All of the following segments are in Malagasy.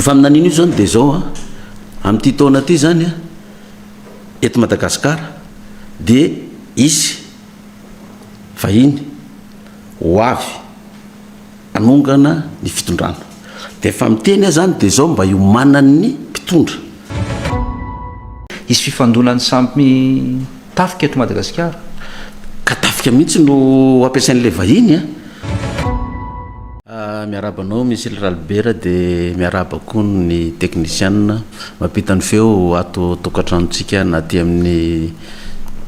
Io faminaniana io zany dia zao an, amin'ity taona ity zany an, eto Madagasikara dia hisy vahiny ho avy. hanongana ny fitondrana dia efa miteny aho zany dia zao mba hiomanan'ny mpitondra. Hisy fifandonan'ny samy tafika eto Madagasikara. Ka tafika mihitsy no ampiasain'ilay vahiny an! Miarahaba anao Misil Ralibera dia miarahaba koa ny teknisianina mampita ny feo ato an-tokantranotsika na aty amin'ny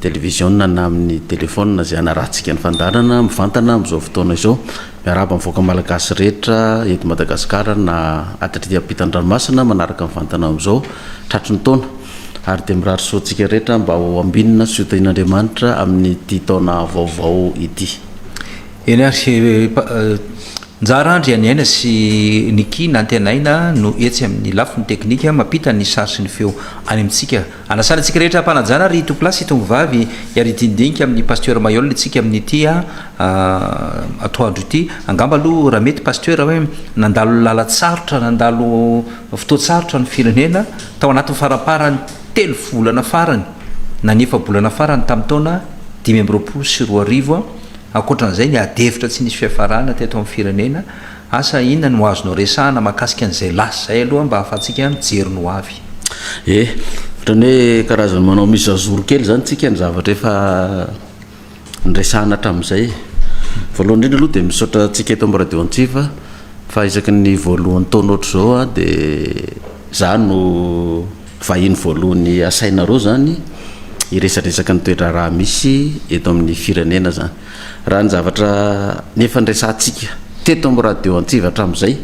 televiziona na amin'ny telefaonina izay hanarahantsika ny fandaharana mivantana amin'izao fotoana izao. Miarahaba ny vahoaka malagasy rehetra eto Madagasikara na aty ampitan-dranomasina manaraka mivantana amin'izao tratry ny taona ary dia mirary soa antsika rehetra mba ho ambinina sy ho tahian'Andriamanitra amin'ity taona vaovao ity. Eny ary, Njara Andry Haniaina sy Nicky Nantenaina no etsy amin'ny lafiny teknika mampita ny sary sy ny feo any amintsika. Anasana antsika rehetra ampanajana ry Tompolahy sy Tongovavy ary hidindinika amin'ny Pasteur Mailhol isika amin'ity atoandro ity. Angamba aloha raha mety Pasteur hoe nandalo lalatsarotra, nandalo fotoan-tsarotra ny firenena tao anatin'ny faramparan'ny telo volana farany na ny efa-bolana farany tamin'ny taona dimy amby roapolo sy roa arivo. Ankoatran'izay ny ady hevitra tsy nisy fiafarana teto amin'ny firenena. Asa inona no azonao resahana mahakasika an'izay lasa izay aloha mba ahafahantsika mijery ny ho avy? Ie, ohatran'ny hoe karazan'ny manao mise à jour kely izany isika ny zavatra efa niresahana hatramin'izay e. Voalohany indrindra aloha dia misaotra antsika eto amin'ny Radio Antsiva fa isaky ny voalohan'ny taona ohatr'izao dia izaho no vahiny voalohany asainareo izany hiresadresaka ny toe-draharaha misy eto amin'ny firenena izany. Raha ny zavatra efa niresahantsika teto amin'ny Radio Antsiva hatramin'izay,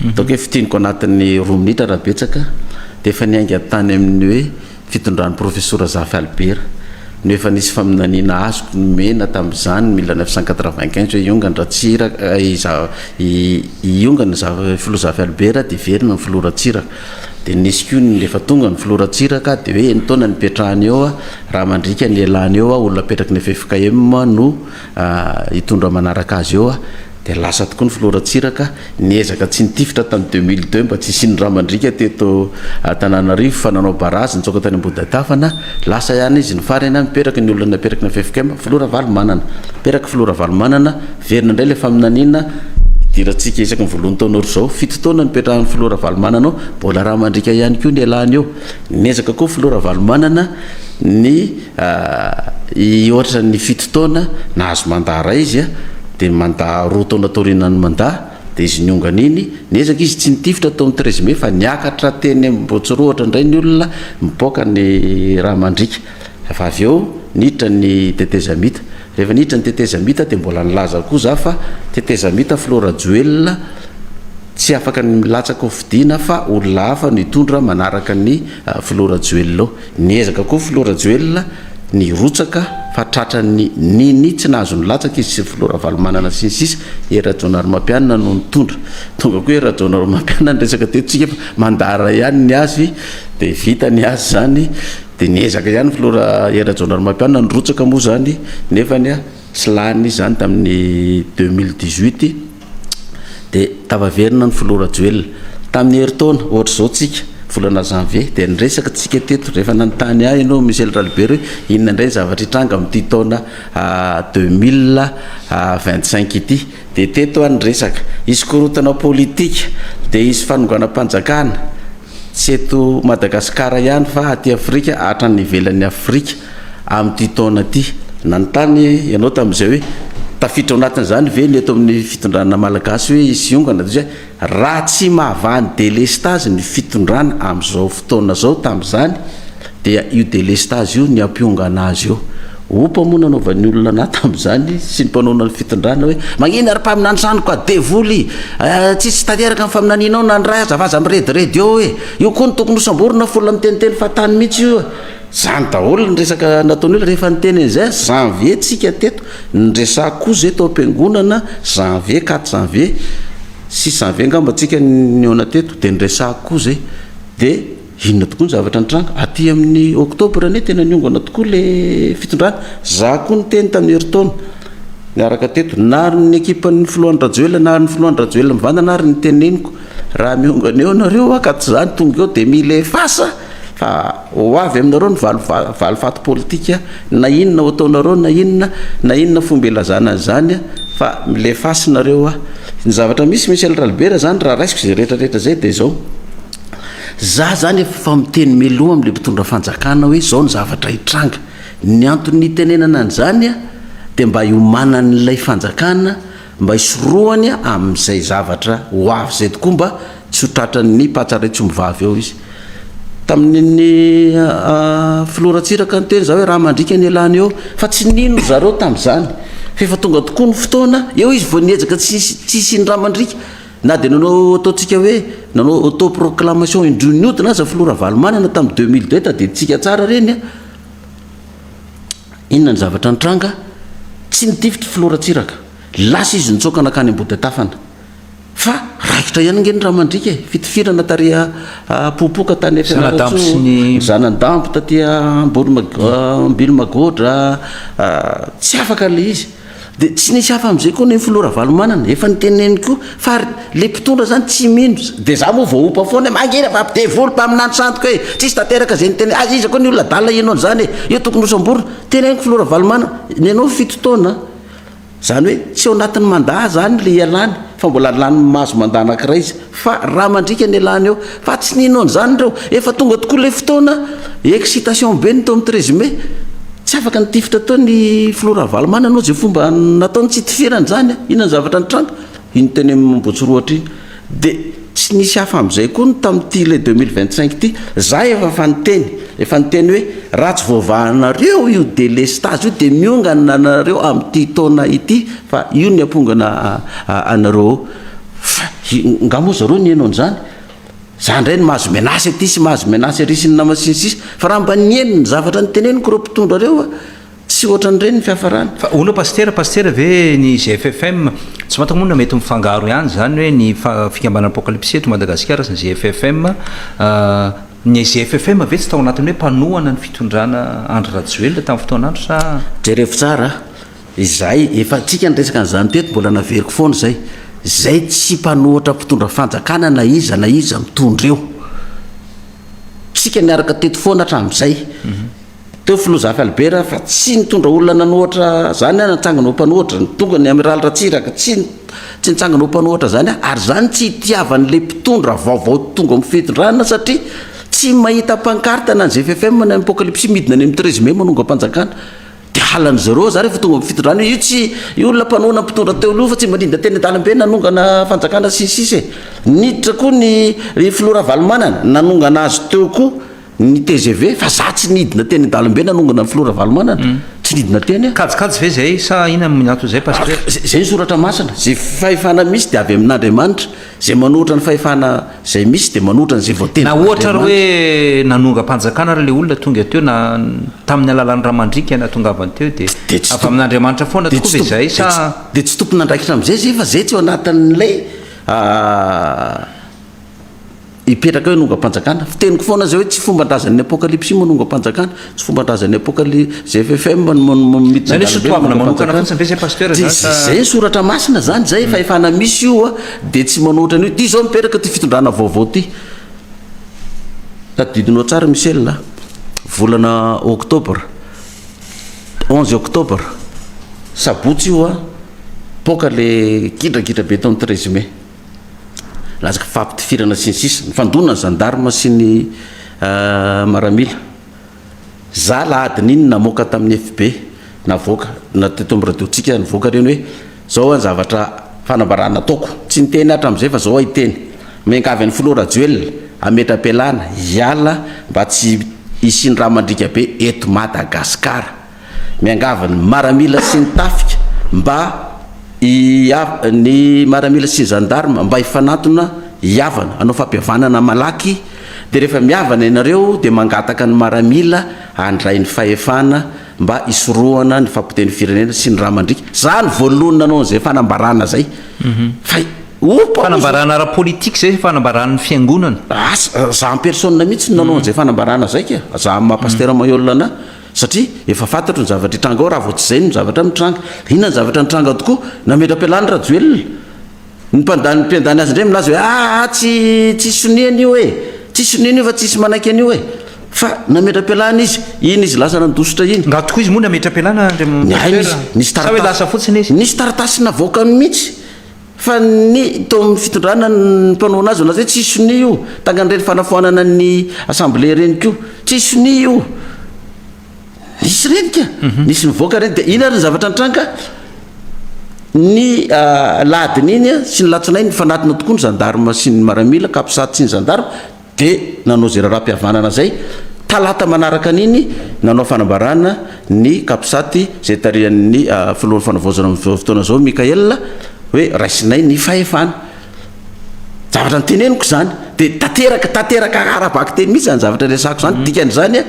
ataoko hoe fintiniko anatin'ny roa minitra raha betsaka, dia efa niainga tany amin'ny hoe fitondran'ny Profesora Zafy Albert, no efa nisy faminaniana azoko nomena tamin'izany mille neuf cent quatre-vingt-quinze hoe hiongana Ratsiraka, hiongana Filoha Zafy Albert dia hiverina ny Filoha Ratsiraka. Dia nisy koa ny rehefa tonga ny filoha Ratsiraka dia hoe enin-taona no ipetrahany eo raha mandriaka ny lelany eo olona apetraky ny ffkm no hitondra manaraka azy eo dia lasa tokoa ny filoha Ratsiraka niezaka tsy nitifitra tamin'ny deux mille deux mba tsy hisian'ny rà mandriaka teto Antananarivo fa nanao barazy nitsoaka tany Ambohidadafana lasa ihany izy ny farany mipetraka ny olona napetraky ny ffkm filoha Ravalomanana mipetraka filoha Ravalomanana Miverina indray ilay faminaniana hidirantsika isaky ny voalohan'ny taona ohatr' izao. Fito taona nipetrahan'ny filoha Ravalomanana ao, mbola rà mandriaka ihany koa ny ialany eo. Niezaka koa filoha Ravalomanana ny hihoatra ny fito taona, nahazo mandat iray izy a, dia mandat roa taona taoriana ny mandat, dia izy niongana iny, niezaka izy tsy nitifitra tao amin'ny treize mai fa niakatra teny Ambohitsirohotra indray ny olona mipoaka ny rà mandriaka. Fa avy eo niditra ny tetezamita. Rehefa niditra ny tetezamita dia mbola nilaza koa za fa tetezamita filoha Rajoelina tsy afaka ny milatsaka ho fidiana fa olona hafa no hitondra manaraka ny filoha Rajoelina eo. Niezaka koa filoha Rajoelina nirotsaka fa tratran'ny nini tsy nahazo nilatsaka izy sy ny filoha Ravalomanana sy ny sisa. Hery Rajaonarimampianina no nitondra. Tonga koa Hery Rajaonarimampianina niresaka teto tsika fa mandara ihany ny azy dia vita ny azy zany. Dia niezaka ihany filoha ra Hery Rajaonarimampianina nirotsaka moa izany nefany a tsy lany izy izany tamin'ny deux mille dix huit dia tafaverina ny filoha Rajoelina. Tamin'ny herintaona ohatra izao tsika volana janvier dia niresaka tsika teto rehefa nanontany ahy ianao Michel Ralibert hoe inona indray ny zavatra hitranga amin'ity taona deux mille vingt cinq ity. Dia teto any resaka. Hisy korontana politika, dia hisy fanonganam-panjakana, tsy eto Madagasikara ihany fa aty Afrika hatrany ivelan'i Afrika amin'ity taona ity. Nanontany ianao tamin'izay hoe tafiditra ao anatin'izany ve ny eto amin'ny fitondrana malagasy hoe hisy hiongana? Raha tsy mahavaha ny delestazy ny fitondrana amin'izao fotoana izao tamin'izany dia io delestazy io ny ampiongana azy eo. Opa moa nanaovan'ny olona anah tamin'izany sy ny mpanohana ny fitondrana hoe magnino ary mpaminany zany koa devoly eh, tsisy tanteraka ny faminanianao na ny ray aza fa aza mirediredy eo eh. Io koa no tokony hosamborina fa olona miteniteny fahatany mihitsy io eh. Zany daholo ny resaka nataon'io rehefa niteny an'izay aho, janvier tsika teto. Niresah koa zay tao am-piangonana janvier quatre janvier six janvier angamba tsika nihaona teto de niresahako koa zay de inona tokoa ny zavatra nitranga aty amin'ny octobre anie tena niongana tokoa le fitondrana za koa niteny tamin'ny herintaona niaraka teto na ary ny ekipan'ny filohan'i rajoelina na ary ny filohan'i rajoelina mivantana ary ny teneniko Raha miongana eo nareo hoa ka tsy zany tonga eo dia mila efasa fa ho avy aminareo ny valifaty politika na inona ho ataonareo na inona na inona fomba ilazana azy zany fa mila efasy nareo hoa ny zavatra misy Michel Ralibera zany raha raisiko izay rehetra rehetra izay dia izao za zany efa miteny mialoha amle mpitondra fanjakana hoe izao ny zavatra hitranga ny antony hitenenana an'izany dia mba hiomanan'ilay fanjakana Mba hisorohany amin'izay zavatra ho avy izay tokoa mba tsy ho tratran'ny patsa raitsy ombivavy eo izy. Tamin'ny filoha Ratsiraka niteny izaho hoe raha mandriaka ny elan'ny eo fa tsy nino ry zareo tamin'izany fa efa tonga tokoa ny fotoana eo izy vao niezaka tsy hisian'ny raha mandriaka na dia nanao ataontsika hoe nanao auto proclamation indroa nihodina aza filoha Ravalomanana tamin'ny deux mille deux tadidinsika tsara ireny a! Inona ny zavatra nitranga? Tsy nitifitra i Filoha Ratsiraka. Lasa izy nitsoaka nankany Ambohidatafana. Fa raikitra ihany ange ny rà mandriaka e! Fitifirana tary Apopoka tany Fianarantsoa, Zanandambo taty Ambohimagodra, tsy afaka ilay izy. Dia tsy nisy hafa amin'izay koa ny filoha Ravalomanana, efa noteneniny koa fa ary ilay mpitondra izany tsy mino, dia izaho moa vao ompa foana hoe mangina fa devoly mpaminany sandoka e! tsisy tanteraka izay niteneniny, aiza aiza koa ny olona adala hihaino an'izany e! io tokony hosamborina, teneniko filoha Ravalomanana, ny anao fito taona an! izany hoe tsy ao anatin'ny mandat izany ilay hialany fa mbola lany mahazo mandat anankiray izy, Fa ra mandriaka ny elah ny eo. Fa tsy nino an'izany ireo. Efa tonga tokoa ilay fotoana. Excitation be ny teo amin'ny treize mai. Tsy afaka nitifitra teo ny filoha Ravalomanana ohatry izay fomba nataony. Tsy itifirany izany an. Inona ny zavatra nitranga? Iny teny amin'ny Ambohitsirohotra iny. Dia tsy nisy hafa amin'izay koa ny tamin'ity ilay deux mille vingt cinq ity. Za efa efa niteny. Efa niteny hoe raha tsy voavahanareo io délestage io dia miongana anareo amin'ity taona ity fa io ny hampongana anareo ao. Fa nga moa zareo nihaino an'izany? Za ndray no mahazo menace aty sy mahazo menace ary sy ny nama sy ny sisa fa raha mba nihaino ny zavatra niteneniko ireo mpitondra ireo a! tsy ohatran'ireny ny fiafarany. Fa hono pasitera pasitera ve ny GFFM? Tsy fantako moa na mety mifangaro ihany izany hoe ny fikambanana Apocalypse eto Madagasikara sy ny GFFM. Ny GFFM ve tsy tao anatin'ny hoe mpanohana ny fitondrana Andry Rajoelina tamin'ny fotoan'andro sa? Jerevo tsara a! Izay, efa antsika niresaka an'izany teto, mbola naveriko foana izay. Izay tsy mpanohatra mpitondra fanjakana na iza na iza mitondra eo. Isika niaraka teto foana hatramin'izay. Teo filoha Zafy Albert fa tsy nitondra olona nanohatra izany aho natsangana ho mpanohatra, ny tonga ny Amiraly Ratsiraka tsy tsy nitsangana ho mpanohatra izany aho. Ary izany tsy hitiavan'ilay mpitondra vaovao tonga amin'ny fitondrana satria tsy mahita pankarta na ny ZFFM na ny Apocalypsy midina any amin'ny treize mai manongam-panjakana. Dia halan'ny zero za rehefa tonga am fitondrana io tsy io olona mpanohana mpitondra teo aloha fa tsy mba ninda teny andalambe nanongana fanjakana sy ny sisa e. Niditra koa ny ry filoha Ravalomanana nanongana azy teo koa ny tgv fa za tsy nidina teny andalambe nanongana ny filoha Ravalomanana tsy nidina teny aho. Kajikajy ve zay sa inona no miantona zay pasteur? Zay ny soratra masina, ze fahefana misy dia avy amin'Andriamanitra. Izay manohitra ny fahefana izay misy dia manohitra an'izay voatendry Na ohatra ary hoe nanongam-panjakana ary ilay olona tonga teo na tamin'ny alalan'ny ramandriaka nahatongavany teo dia avy amin'Andriamanitra foana tokoa ve izay sa. Dia tsy tompon'andraikitra amin'izay izay fa izay tsy ao anatin'ilay hipetraka hoe hanongam-panjakana. Fiteniko foana izay hoe tsy fomban-drazan'ny Apokalypsy io manongam-panjakana. Tsy fombandrazan'ny apokaly ZFFM no miditra an-dalambe. Nanisy toavina manokana fotsiny ve zay Pasteur na sa. Izay soratra masina zany zay efa efana misy io a dia tsy manao ohatran'io. Ty zao mipetraka ty fitondrana vaovao ty. Tadidinao tsara Michel a. Volana octobre, onze octobre, sabotsy io a, poaka le gidragidra be tao amin'ny treize mai. Lazaky fahapitifirana sy ny sisa. Nifandona ny zandarma sy ny maramila. Za alahadiny iny namoaka tamin'ny FB navoaka na teto amin'ny radiotsika nivoaka ireny hoe zao an zavatra fanambarana ataoko. Tsy niteny aho hatramin'izay fa zao aho hiteny. Miangavy an'i filoha Rajoelina hametra-pialana hiala mba tsy hisian'ny rà mandriaka be eto Madagasikara. Miangavy ny maramila sy ny tafika mba hihav ny maramila sy ny gendarme mba hifanantona hihavana hanao fampihavanana malaky dia rehefa mihavana ianareo dia mangataka ny maramila handray ny fahefana mba hisorohana ny fapotehan'ny firenena sy ny ra mandriaka za no voalohany nanao an'izay fanambarana zay fa ompa Fanambarana ara-politique zay sa fanambaran'ny fiangonana? Asa, za en personne mihitsy no nanao an'izay fanambarana zay ka, za maha pasteur Mahiolana. Satria efa fantatro ny zavatra hitranga ao raha vao tsy izay no zavatra mitranga. Inona ny zavatra nitranga tokoa? Nametra-pialana i Rajoelina. Ny mpandany mpiandany azy indray milaza hoe aa tsy tsisy sonia an'io e! Tsisy sonia an'io fa tsisy manaiky an'io e! Fa nametra-pialana izy. Iny izy lasa nandositra iny. Raha tokoa izy moa nametra-pialana Andriamatoa Pasteur sa hoe lasa fotsiny izy? Nisy taratasy navoakany mihitsy. Fa ny tao amin'ny fitondrana ny mpanao anazy milaza hoe tsy hisy sonia io, takan'ireny fanafoanana ny assemblée ireny koa, tsy hisy sonia io. Nisy ireny ka, nisy nivoaka ireny. Dia inona ary ny zavatra nitranga? Ny aladin'iny sy ny alatsinainy nifanatona tokoa ny zandarima sy ny maramila, capsat sy ny zandarima, dia nanao izay raharaham-pihavanana izay, talata manaraka an'iny nanao fanambarana ny Capsat izay tarihan'ny filohan'ny fanavaozana amin'izao fotoana izao Mickaël hoe raisinay ny fahefana. Zavatra noteneniko izany dia tanteraka tanteraka ara-bakiteny mihitsy izany zavatra resahako izany, dikan'izany an!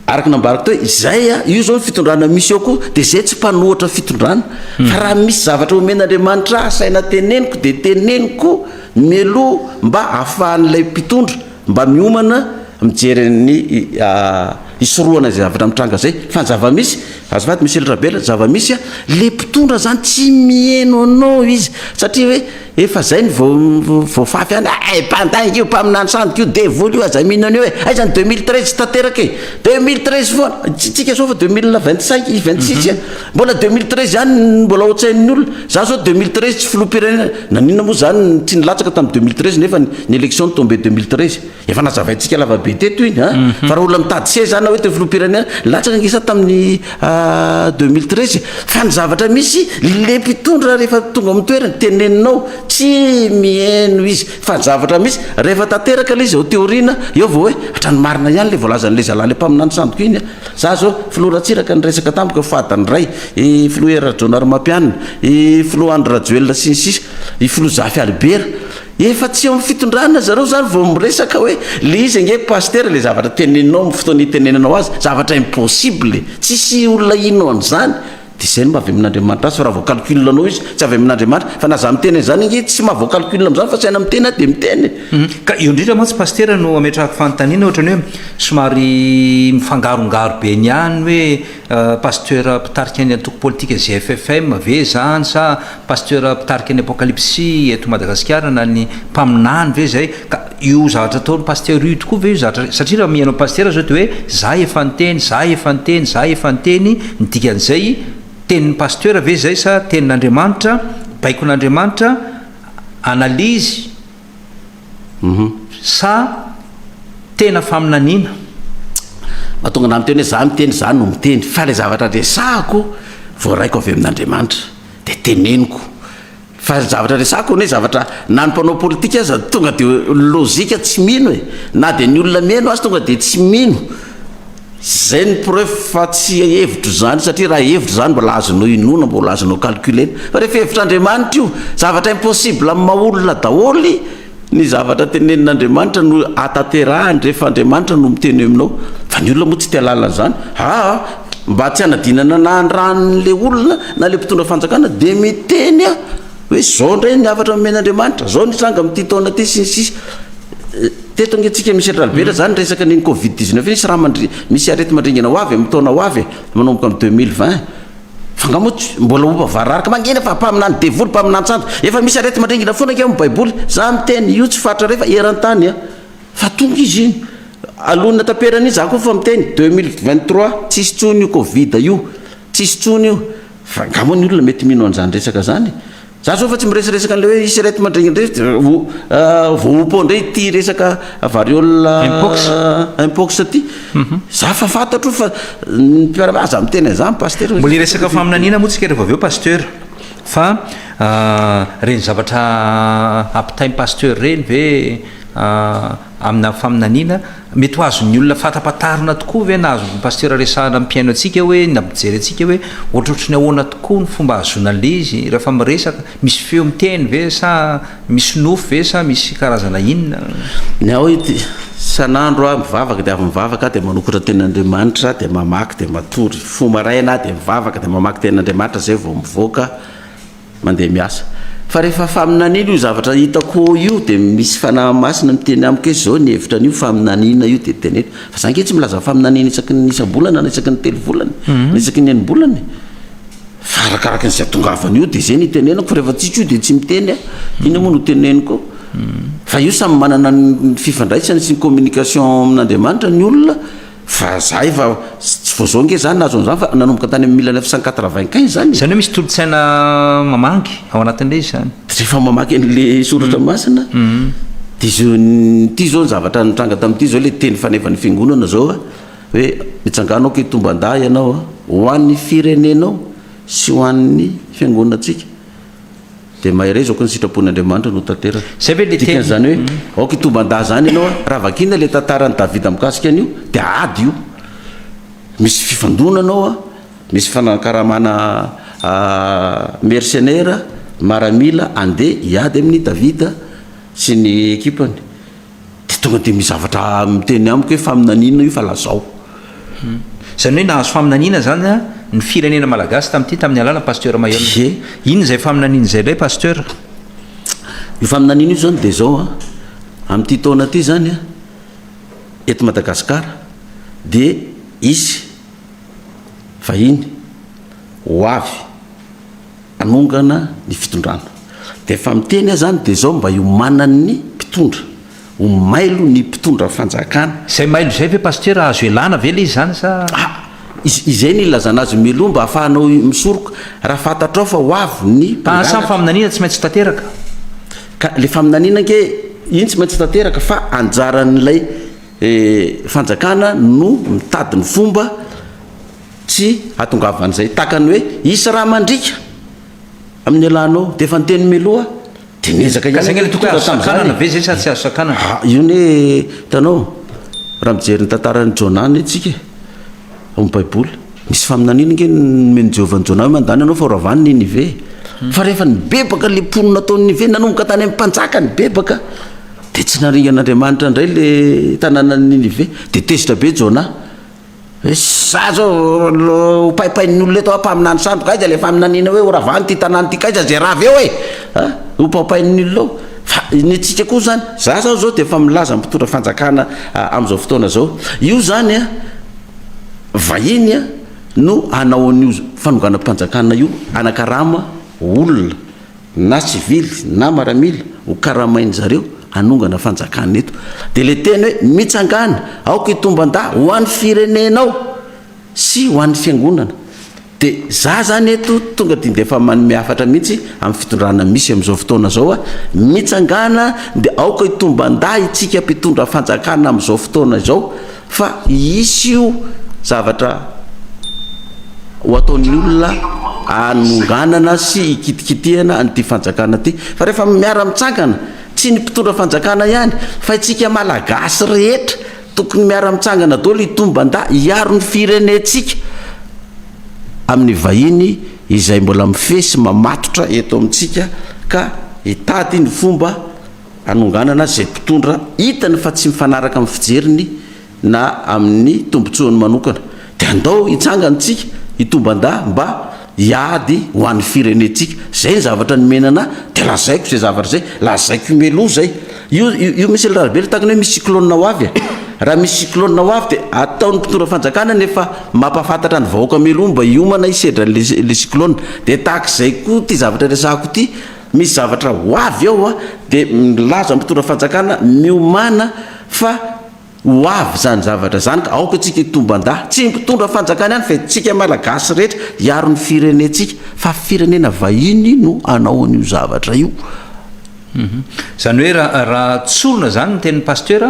Araka ny nambarako teo, izay a, io izao ny fitondrana misy eo koa, dia izay tsy mpanohatra fitondrana. Hmm. Fa raha misy zavatra omen'Andriamanitra ahy saina teneniko, dia teneniko mialoha mba ahafahan'ilay mpitondra mba miomana mijery ny ah, hisorohana izay zavatra mitranga izay. Fa ny zava-misy, Azafady Monsieur le Rabela, zava-misy a, le mpitondra zany tsy miheno anao izy, satria hoe efa zay ny vao voafafy any, ay mpandainga io, mpaminany sandoka io, devoly io, aza mino an'io e, aiza ny deux mille treize tsy tanteraka e, deux mille treize foana, tsika zao efa deux mille vingt cinq, vingt six a, mbola deux mille treize ihany ny mbola ao an-tsain'ny olona, za zao deux mille treize tsy filoham-pirenena, naninona moa zany tsy nilatsaka tamin'ny deux mille treize nefa ny élection no tombé deux mille treize. Efa nazavaintsika lavabe teto iny a, mhm. fa raha olona mitady seza na hoe teo filoham-pirenena, latsaka angisa tamin'ny ah, deux mille treize, fa ny zavatra misy le mpitondra rehefa tonga amin'ny toerana teneninao tsy miheno izy, fa ny zavatra misy rehefa tanteraka le izy ao teoriana, eo vao hoe hatrany marina ihany le voalazan'le zalahy le mpaminany sandoka iny a. Za zao filoha Ratsiraka niresaka tamiko fadany iray, i filoha Hery Rajaonarimampianina, i filoha Andry Rajoelina sy ny sisa, i filoha Zafy Albert, Efa tsy eo amin'ny fitondrana zareo zany vao miresaka hoe le izy ange pasitera le zavatra teneninao amin'ny fotoana itenenanao azy zavatra impossible tsisy olona hino an'izany de zay no maha avy amin'Andriamanitra azy fa raha vao calcul anao izy tsy avy amin'Andriamanitra fa na za miteny an'izany ange tsy maha vao calcul amin'izany fa saina miteny aho de miteny Ka eo indrindra mantsy pasitera no ametrahako fanontaniana ohatran'ny hoe somary mifangarongaro be ny any hoe Pasteur mpitarika ny antoko politika GFFM ve izany sa pasteur mpitarika ny apokalipsy eto Madagasikara na ny mpaminany ve izay ka io zavatra ataony pasteur io tokoa ve io zavatra satria raha mihaino pasteur zao de hoe za efa niteny za efa niteny za efa niteny ny dikan'izay tenin'ny pasteur ve izay sa tenin'Andriamanitra baikon'Andriamanitra analyse Sa tena faminaniana? Mahatonga anà miteny hoe izaho miteny, izaho no miteny. Fa ilay zavatra resahako, voaraiko avy amin'Andriamanitra, dia teneniko. Fa ny zavatra resahako anie zavatra, na ny mpanao politika aza tonga dia lôjika tsy mino e! Na dia ny olona mihaino azy tonga dia tsy mino. Zay ny preuve fa tsy hevitro zany satria raha hevitro zany mbola azonao inoana mbola azonao calculer fa rehefa hevitr'Andriamanitra io zavatra impossible amin'ny maha olona daholo ny zavatra tenenin'Andriamanitra no atanterahany rehefa Andriamanitra no miteny aminao fa ny olona moa tsy te halala an'izany aa mba tsy hanadinana na handrany le olona na le mpitondra fanjakana de miteny aho hoe izao indray ny hafatra nomen'Andriamanitra, izao ny tranga amin'ity taona ity sy ny sisa Teto ange tsika misy Atralibera zany resaka an'iny covid 19 iny sy raha mandri misy arety mandringana ho avy amin'ny taona ho avy e, manomboka amin'ny 2020 fa nga moa tsy mbola ho vararaka mangina fa mpaminany devoly mpaminany santo efa misy arety mandringana foana ange amin'ny baiboly za miteny io tsy faritra refa eran-tany a fa tonga izy iny alohan'ny hataperany iny za koa efa miteny 2023 tsisy intsony io covid io Tsisy tsony io fa nga moa ny olona mety mino an'izany resaka zany e! Za zao efa tsy miresaresaka an'ilay hoe hisy ireto mandregny ireto dia ho voaompo indray ity resaka variole Mpox Mpox ty. Za fa fantatro fa ny mpiara aza miteny an'izany Pasitera. Mbola hiresaka faminaniana moa tsika rehefa avy eo Pasteur fa reny zavatra ampitainy Pasteur reny ve amina faminaniana Mety ho azon'ny olona fantapatarina tokoa ve na azon'ny pasitera resahana ny mpihaino antsika hoe na mpijery antsika hoe ohatrohatry ny ahoana tokoa ny fomba ahazoana an'ilay izy rehefa miresaka? Misy feo miteny ve sa misy nofy ve sa misy karazana inona? Ny ahy hoy, isan'andro aho mivavaka dia avy mivavaka aho dia manokatra ny tenin'Andriamanitra dia mamaky dia matory. Fo maraina aho dia mivavaka dia mamaky ny tenin'Andriamanitra izay vao mivoaka. Mandeha miasa. Fa rehefa faminaniana io zavatra hitako io dia misy fanahy masina miteny amiko hoe izao ny hevitra anio faminaniana io dia teneno. Fa za ange tsy milaza faminaniana isaky ny isam-bolana na isaky ny telo volana mhm. na isaky ny enim-bolana e. Fa arakaraka izay tongavana io dia zay ny itenenako fa rehefa tsitsy io dia tsy miteny a. Ina moa no teneniko? Mhm. Fa io samy manana ny fifandraisany sy ny communication amin'Andriamanitra ny olona. Fa za efa tsy vao zao nge za nahazo an'izany fa nanomboka tany amin'ny mille neuf cent quatre vingt quinze zany e! Izany hoe misy tolo-tsaina mamangy ao anatin'ilay izy zany? Rehefa mamaky an'le soratra masina de zao ity zao ny zavatra nitranga tamin'ity zao le teny fanevan'ny fiangonana zao a, hoe mitsangàna aoka hitomban-dahy ianao a, ho an'ny firenenao sy ho an'ny fiangonantsika Dia maherezako ny sitrapon'Andriamanitra no tanteraka. Zay ve le teny? Dikan'izany hoe aoka hitoban-dahy izany ianao a! Raha vakiana ilay tantaran'i Davida mikasika an'io dia ady io. Misy fifandonana ao a, misy fifanankaramana mercenaires, maramila, andeha hiady amin'i Davida sy ny ekipany. de tonga de misy zavatra miteny amiko hoe faminaniana io fa lazao. Izany hoe nahazo faminaniana izany an ny firenena malagasy tamin'ity tamin'ny alalan'i Pasteur Maillol. Ie. Inona izay faminaniana izay indray Pasteur? Io faminaniana io izany dia izao an, amin'ity taona ity izany an, eto Madagasikara dia hisy vahiny ho avy, hanongana ny fitondrana de efa miteny aho zany de zao mba hiomanan ny mpitondra ho mailo ny mpitondra fanjakana. Izay mailo izay ve Pasitera azo ialana ve le izy zany sa. Ah! izay no ilazana azy miloha mba afahanao misoroka raha fantatrao fa ho avy ny mpangalatra. Sa ny faminaniana tsy maintsy tanteraka? Ka le faminaniana ange iny tsy maintsy tanteraka fa anjaran'ilay fanjakana no mitady ny fomba Tsy hahatongavan'izay tahaka ny hoe hisy raha mandriaka amin'ny elanao. Dia efa niteny mialoha dia niezaka ihany ianao nitondra tamin'izany e. Ka zay angah tokony azo sakanana ve zay sa tsy azo sakanana? Ah, io anie hitanao, raha mijery ny tantaran'i Jona anie tsika e, ao amin'ny baiboly, nisy faminaniana ange nomen'i Jehovah an'i Jona hoe mandany ianao fa horavany Ninive e. Fa rehefa nibebaka ilay mponina tao Ninive nanomboka tany amin'ny mpanjaka nibebaka, dia tsy naringan'Andriamanitra indray ilay tanànan'i Ninive, dia tezitra be Jona. Za zao ho paipain'ny olona eto a mpaminany sandoka aiza le faminaniana hoe ho ravany ty tanàna ty kaiza ze rava eo e a ho paopain'ny olona eo fa ny antsika koa zany za zao zao dia efa milaza mpitondra fanjakana amin'izao fotoana zao io zany a vahiny a no hanao an'io fanonganam-panjakana io anakarama olona na sivily na maramila ho karamain-dry zareo hanongana fanjakana eto. Dia ilay teny hoe mitsangàna, aoka hitomban-dà ho an'ny firenenao sy ho an'ny fiangonana. Dia izaho izany eto tonga dia efa manome hafatra mihitsy amin'ny fitondrana misy amin'izao fotoana izao aho, mitsangàna dia aoka hitomban-dà isika mpitondra fanjakana amin'izao fotoana izao. Fa hisy io zavatra ho ataon'ny olona hanonganana sy hikitikitihana an'ity fanjakana ity. Fa rehefa miara mitsangana, tsy ny mpitondra fanjakana ihany fa itsika Malagasy rehetra tokony miara mitsangana daholo hitomban-da hiaro ny firenentsika amin'ny vahiny izay mbola mifehy sy mamatotra eto amintsika ka hitady ny fomba hanonganana izay mpitondra hitany fa tsy mifanaraka amin'ny fijeriny na amin'ny tombontsoany manokana, dia andao hitsangana isika hitomban-da mba hiady ho an'ny firenentsika. Izay ny zavatra nomena anah, dia lazaiko izay zavatra izay, lazaiko mialoha izay. Io, io Michel Rabe ilay takona hoe misy cyclone ho avy e! Raha misy cyclone ho avy dia ataon'ny mpitondra fanjakana ny efa mampahafantatra ny vahoaka mialoha mba hiomana hisedra an'ilay, ilay cyclone. Dia tahaka izay koa ity zavatra resahako ity. Misy zavatra ho avy ao a, dia milaza ny mpitondra fanjakana miomana fa ho avy izany zavatra izany ka aoka isika hitombanda, tsy ny mpitondra fanjakana ihany fa isika malagasy rehetra hiaro ny firenentsika fa firenena vahiny no hanao an'io zavatra io. Izany hoe raha tsorina izany ny tenin'i Pasteur,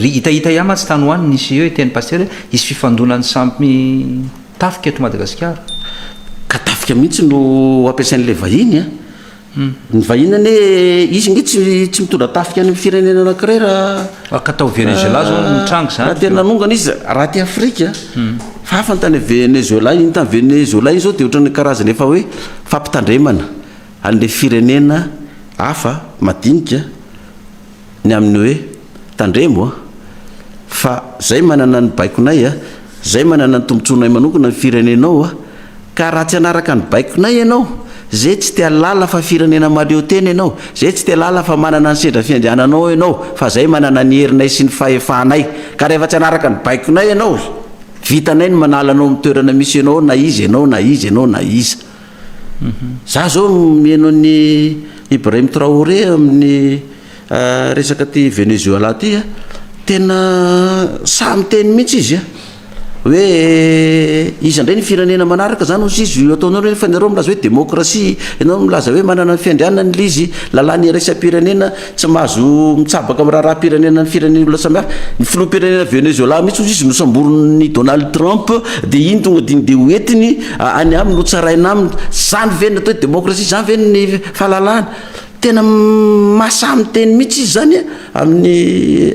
hitahita ihany mantsy tany ho any nisy hoe tenin'i Pasteur hoe hisy fifandonan'ny samy. Tafika eto Madagasikara. Ka tafika mihitsy no ampiasain'ilay vahiny a. Ny vahiny anie izy nge tsy tsy mitondra tafika any amin'ny firenena anankiray raha ka tao Venezuela zao ah, nitranga izany. Raha tena nanongana izy raha aty Afrika. Hmm. Fa hafa ny tany Venezuela, iny tany Venezuela iny zao dia ohatran'ny karazana efa hoe fampitandremana an'ilay firenena hafa madinika. ny amin'ny hoe, Tandremo a! fa zay manana ny baikonay a! zay manana ny tombotsoanay manokana ny firenenao a! ka raha tsy hanaraka ny baikonay ianao, ze tsy te halala fa firenena mahaleo tena ianao, ze tsy te halala fa manana ny sendra fiandriananao ianao, fa zay manana ny herinay sy ny fahefanay, ka rehefa tsy hanaraka ny baikonay ianao, vitanay ny manala anao amin'ny toerana misy ianao ao na iza ianao na iza ianao na iza. Za zao mihaino an'i Ibrahim Traoré amin'ny resaka aty Venezuela aty a, tena sahy miteny mihitsy izy a, hoe iza ndray ny firenena manaraka zany hozy izy, io ataonareo nefa nareo milaza hoe demokrasia, ianao milaza hoe manana ny fiandrianany le izy, lalàna iraisam-pirenena Tsy mahazo mitsabaka amin'ny raharaham-pirenena ny firenena olona samihafa. Ny filoham-pirenena Venezoelà mihitsy hozy izy nosamborin'i Donald Trump dia iny tonga dia ndeha hoentiny any aminy hotsaraina aminy. Zany ve ny atao hoe demokrasia? Zany ve ny fahalalahana? Tena mahasahy miteny mihitsy izy zany amin'i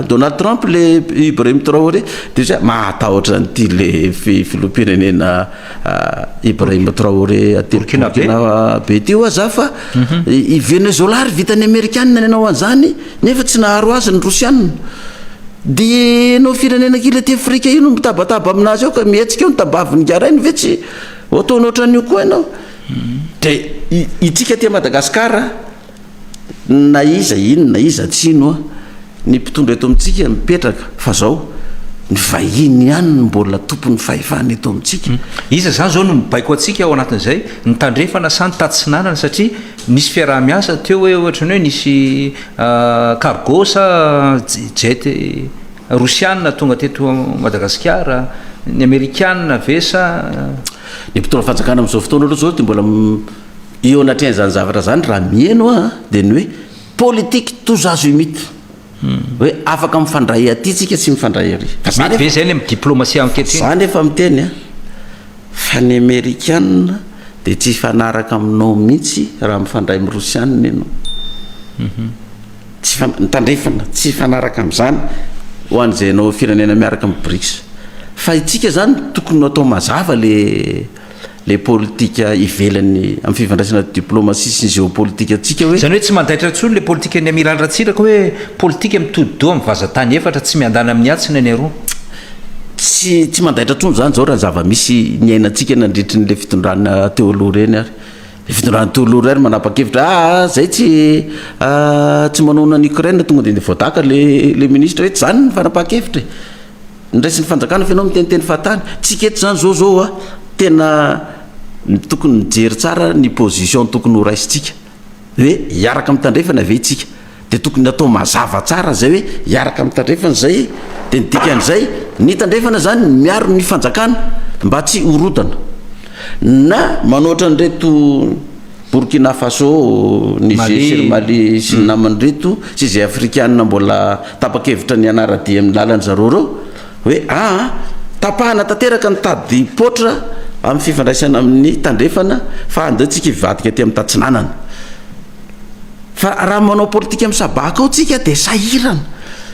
Donald Trump le Ibrahim Traoré. Dia zay mahatahotra an'ity le filoham-pirenena. Ibrahim Traoré aty Burkina be ty hoa za fa i Venezuela ary vitan'ny Amerikanina nanao an'izany nefa tsy naharo azy ny Rosianina dia ianao firenena kely aty Afrika io no mitabataba amin'azy ao ka mihetsika eo ny tambavin'ny garainy ve tsy ho ataonao ohatran'io koa ianao dia itsika aty Madagasikara na iza ino na iza tsy ino an, ny mpitondra eto amintsika mipetraka fa zao ny vahiny ihany no mbola tompon'ny fahefana eto amintsika. Iza izany izao no mibaiko antsika ao anatin'izay? Ny tandrefana sa ny tatsinanana? Satria nisy fiaraha-miasa teo hoe ohatra ny hoe nisy cargo sa jet rosiana tonga teto Madagasikara, ny amerikana ve sa. Ny mpitondra fanjakana amin'izao fotoana aloha izao dia mbola Eo anatrehan'izany zavatra izany, raha miheno aho an, dia ny hoe politique tous azimuts. Hoe afaka mifandray aty tsika, tsy mifandray ary. Fa za nefa. Mety be izay ilay amin'ny diplomasia ankehitriny. Za nefa miteny an, fa ny amerikana dia tsy hifanaraka aminao mihitsy raha mifandray amin'ny rosiana ianao. Tsy hifan, tandrefana, tsy hifanaraka amin'izany ho an'izay anao firenena miaraka amin'ny brics. Fa itsika izany tokony ho atao mazava ilay. ilay politika ivelany amin'ny fifandraisana diplomasia sy ny geopolitikantsika hoe. Izany hoe tsy mandaitra intsony ilay politikan'ny Amiraly Ratsiraka hoe politika mitodi-doha amin'ny vazan-tany efatra tsy miandany amin'ny atsy na ny aroa? Tsy tsy mandaitra intsony izany izao raha ny zava-misy niainantsika nandritry ny ilay fitondrana teo aloha ireny ary. Fitondrany Tololo iray no manapa-kevitra a zay tsy a tsy manohana ny Ukraine tonga dia voadaka le le ministra hoe tsy zany ny fanapaha-kevitra e. Ny raisin'ny fanjakana fa ianao miteniteny fahatany. Tsika eto zany zao zao a tena tokony mijery tsara ny position tokony ho raisintsika hoe hiaraka amin'ny tandrefana ve itsika. Dia tokony atao mazava tsara izay hoe hiaraka amin'ny tandrefana izay, dia ny dikan'izay, ny tandrefana izany miaro ny fanjakana mba tsy horontana na manao ohatran'ny ireto Burkina Faso, Niger sy ry Mali sy ny namany ireto sy izay Afrikana mbola tapa-kevitra ny hanara-dia amin'ny lalan'ny zareo ireo hoe aa tapahana tanteraka ny tadi-poitra amin'ny fifandraisana amin'ny tandrefana fa andeontsika hivadika aty amin'ny tatsinanana. Fa raha manao politika misabaka ao tsika dia sahirana.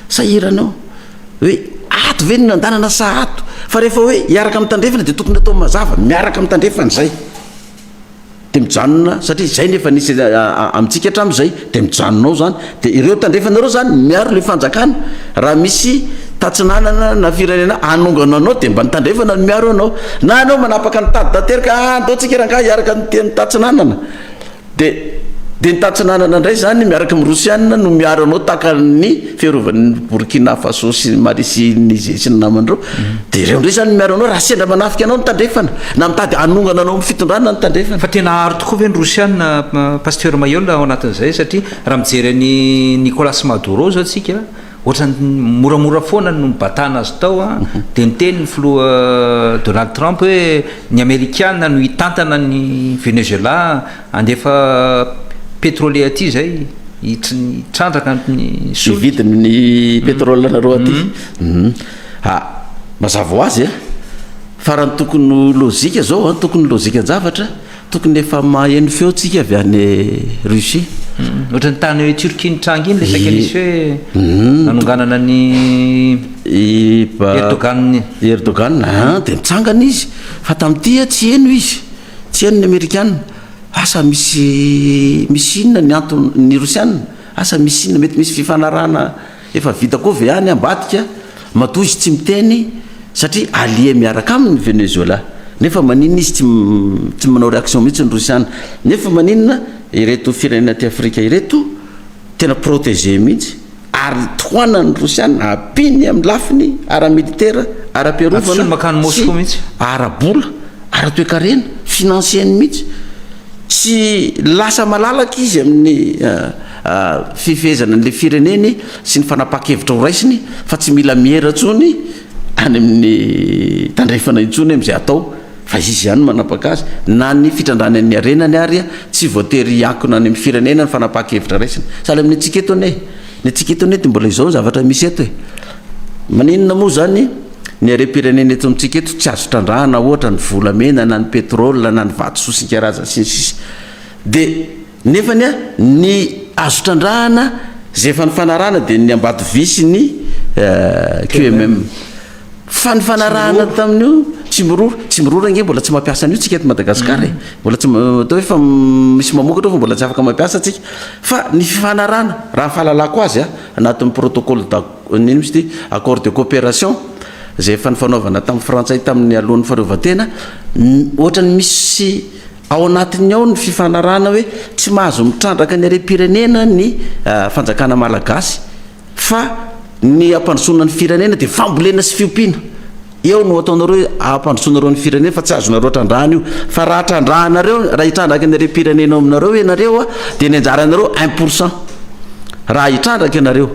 Sahirana ao. Hoe ato ve no nandanana sa ato? Fa rehefa hoe hiaraka amin'ny tandrefana dia tokony atao mazava, miaraka amin'ny tandrefana izay. Dia mijanona satria izay no efa nisy amintsika hatramin'izay dia mijanona ao izany. Dia ireo tandrefana ireo izany miaro ilay fanjakana. Raha misy tatsinanana na firenena hanongana anao dia mba ny tandrefana no miaro anao. Na ianao manapaka ny tady tanteraka, andao tsika rangahy hiaraka amin'ny tatsinanana. De de ny tatsinanana indray zany miaraka amin'ny rosianina no miaro anao tahaka ny fiarovan'ny Burkina Faso sy ny Mali sy ny Niger sy ny namany ireo mhm. de ireo indray zany miaro anao raha sendra manafika anao ny tandrefana na mitady hanongana anao amin'ny fitondrana ny tandrefana fa tena aro tokoa ve ny rosianina pasteur Mayola ao anatin'izay satria raha mijery an'i Nicolas Maduro zao tsika Ohatran'ny moramora foana no nibatana azy tao an, dia niteny ny filoha Donald Trump hoe ny amerikana no hitantana an'i Venezuela handefa petrole aty izay hitrandraka ny solika. Hividy ny petrole anareo aty. Ha, mazava ho azy an, fa raha ny tokony ho lojika izao an, tokony ny lojikan-javatra, Tokony efa maheno feo tsika avy any Russie. Ohatran'ny tany hoe Turquie nitranga iny le saika nisy hoe nanonganana ny Erdogan iny. Erdogan an dia nitsangana izy fa tamin'ity ah tsy heno izy, tsy heno ny Amerikana. Asa misy misy inona ny antony ny Rosiana? Asa misy inona? Mety misy fifanarahana. Efa vita koa ve any ambadika? Matoa izy tsy miteny satria allié miaraka aminy ny Venezuela. Nefa maninona izy tsy tsy manao réaction mihitsy ny Rosiana? Nefa maninona ireto firenena aty Afrika ireto tena protéger mihitsy ary tohanan'ny Rosiana ampiany amin'ny lafiny ara-militaire, ara-piarovana sy ara-bola, ara-toekarena, financier-ny mihitsy. Tsy lasa malalaka izy amin'ny. fifehezana an'ilay fireneny sy ny fanapahan-kevitra ho raisiny fa tsy mila miera intsony any amin'ny tandrefana intsony amin'izay atao fa izy ihany no manapaka azy, na ny fitrandrahany an'ny harenany ary tsy voatery hiankina any amin'ny firenena ny fanapahan-kevitra raisina. Sahala amin'ny antsika eto anie, ny antsika eto anie dia mbola izao ny zavatra misy eto e! Maninona moa izany ny harem-pirenena eto amintsika eto tsy azo trandrahana ohatra ny volamena na ny pétrole na ny vato sosy isan-karazany sy ny sisa dia Nefa ny ny azo trandrahana izay efa nifanarahana dia ny Ambatovy sy ny QMM. Fa ny fanarahana tamin'io Tsimiroro, Tsimiroro ange mbola tsy mampiasa an'io tsika eto Madagascar e. Mbola tsy atao hoe fa misy mamokatra ao fa mbola tsy afaka mampiasa tsika. Fa ny fifanarahana raha ny fahalalako azy a, anatin'ny protocole da inona moa izy ity, accord de coopération izay efa nifanaovana tamin'ny Frantsay tamin'ny alohan'ny faharovan-tena, ohatran'ny misy Ao anatiny ao ny fifanarahana hoe tsy mahazo mitrandraka ny harem-pirenena ny fanjakana malagasy fa ny hampandrosoana ny firenena dia fambolena sy fiompiana. Eo no ataonareo hoe hampandrosoanareo ny firenena fa tsy azonareo trandrahana io. Fa raha trandrahanareo, raha hitrandraka ny harem-pirenena ao aminareo ianareo dia ny anjaranareo un pour cent. Raha hitrandraka ianareo.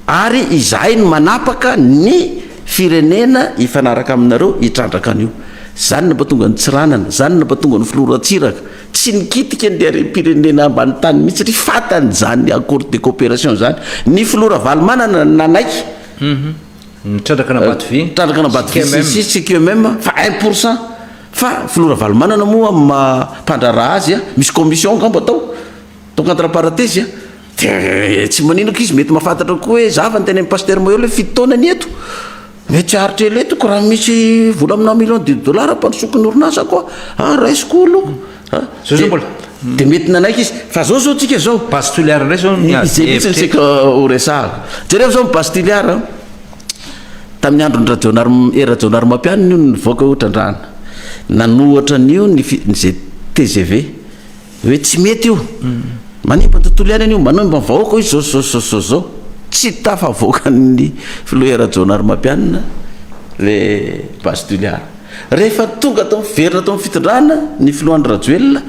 Ary izahay no manapaka ny. Firenena hifanaraka aminareo hitrandraka an'io. Izany no mahatonga an'i Tsiranana, izany no mahatonga an'i Filoha Ratsiraka tsy nikitika ny harem-pirenena ambany tany mihitsy satria fantany izany accord de coopération izany. Ny Filoha Ravalomanana nanaiky. Nitrandraka an'Ambatovy sy Kemem. Nitrandraka an'Ambatovy sy sy Kemem fa un pour cent. Fa Filoha Ravalomanana moa amin'ny maha mpandraharaha azy, misy commission angamba tao, tao contre-parentese. Dia tsy maninoka izy mety mahafantatra koa hoe zava ny tenenin'i Pasteur Moeol hoe fito taona ny eto. Mety tsy haharitra ela eto ko raha misy vola aminà millions de dollars ampandrosoako ny orinasa ko a, raisiko oloko a. Zao zao mbola. Dia mety nanaiky izy. Fa zao zao tsika zao. Base Toliara indray zao ny hevitra eto. Izay mihitsy no saika ho resahako. Jereo zao ny Base Toliara a. Tamin'ny andron'i Rajaonarima, eh Rajaonarimampianina io no nivoaka io trandrahana. Nanohatra an'io ny fi, ny ze tgv. Hoe tsy mety io. Manimba ny tontolo iainana io, manimba ny vahoaka io zao sy zao sy zao sy zao. Tsy tafavoakan'ny filoha Hery Rajaonarimampianina le base Toliara. Rehefa tonga tao miverina tao amin'ny fitondrana ny filoha Andry Rajoelina,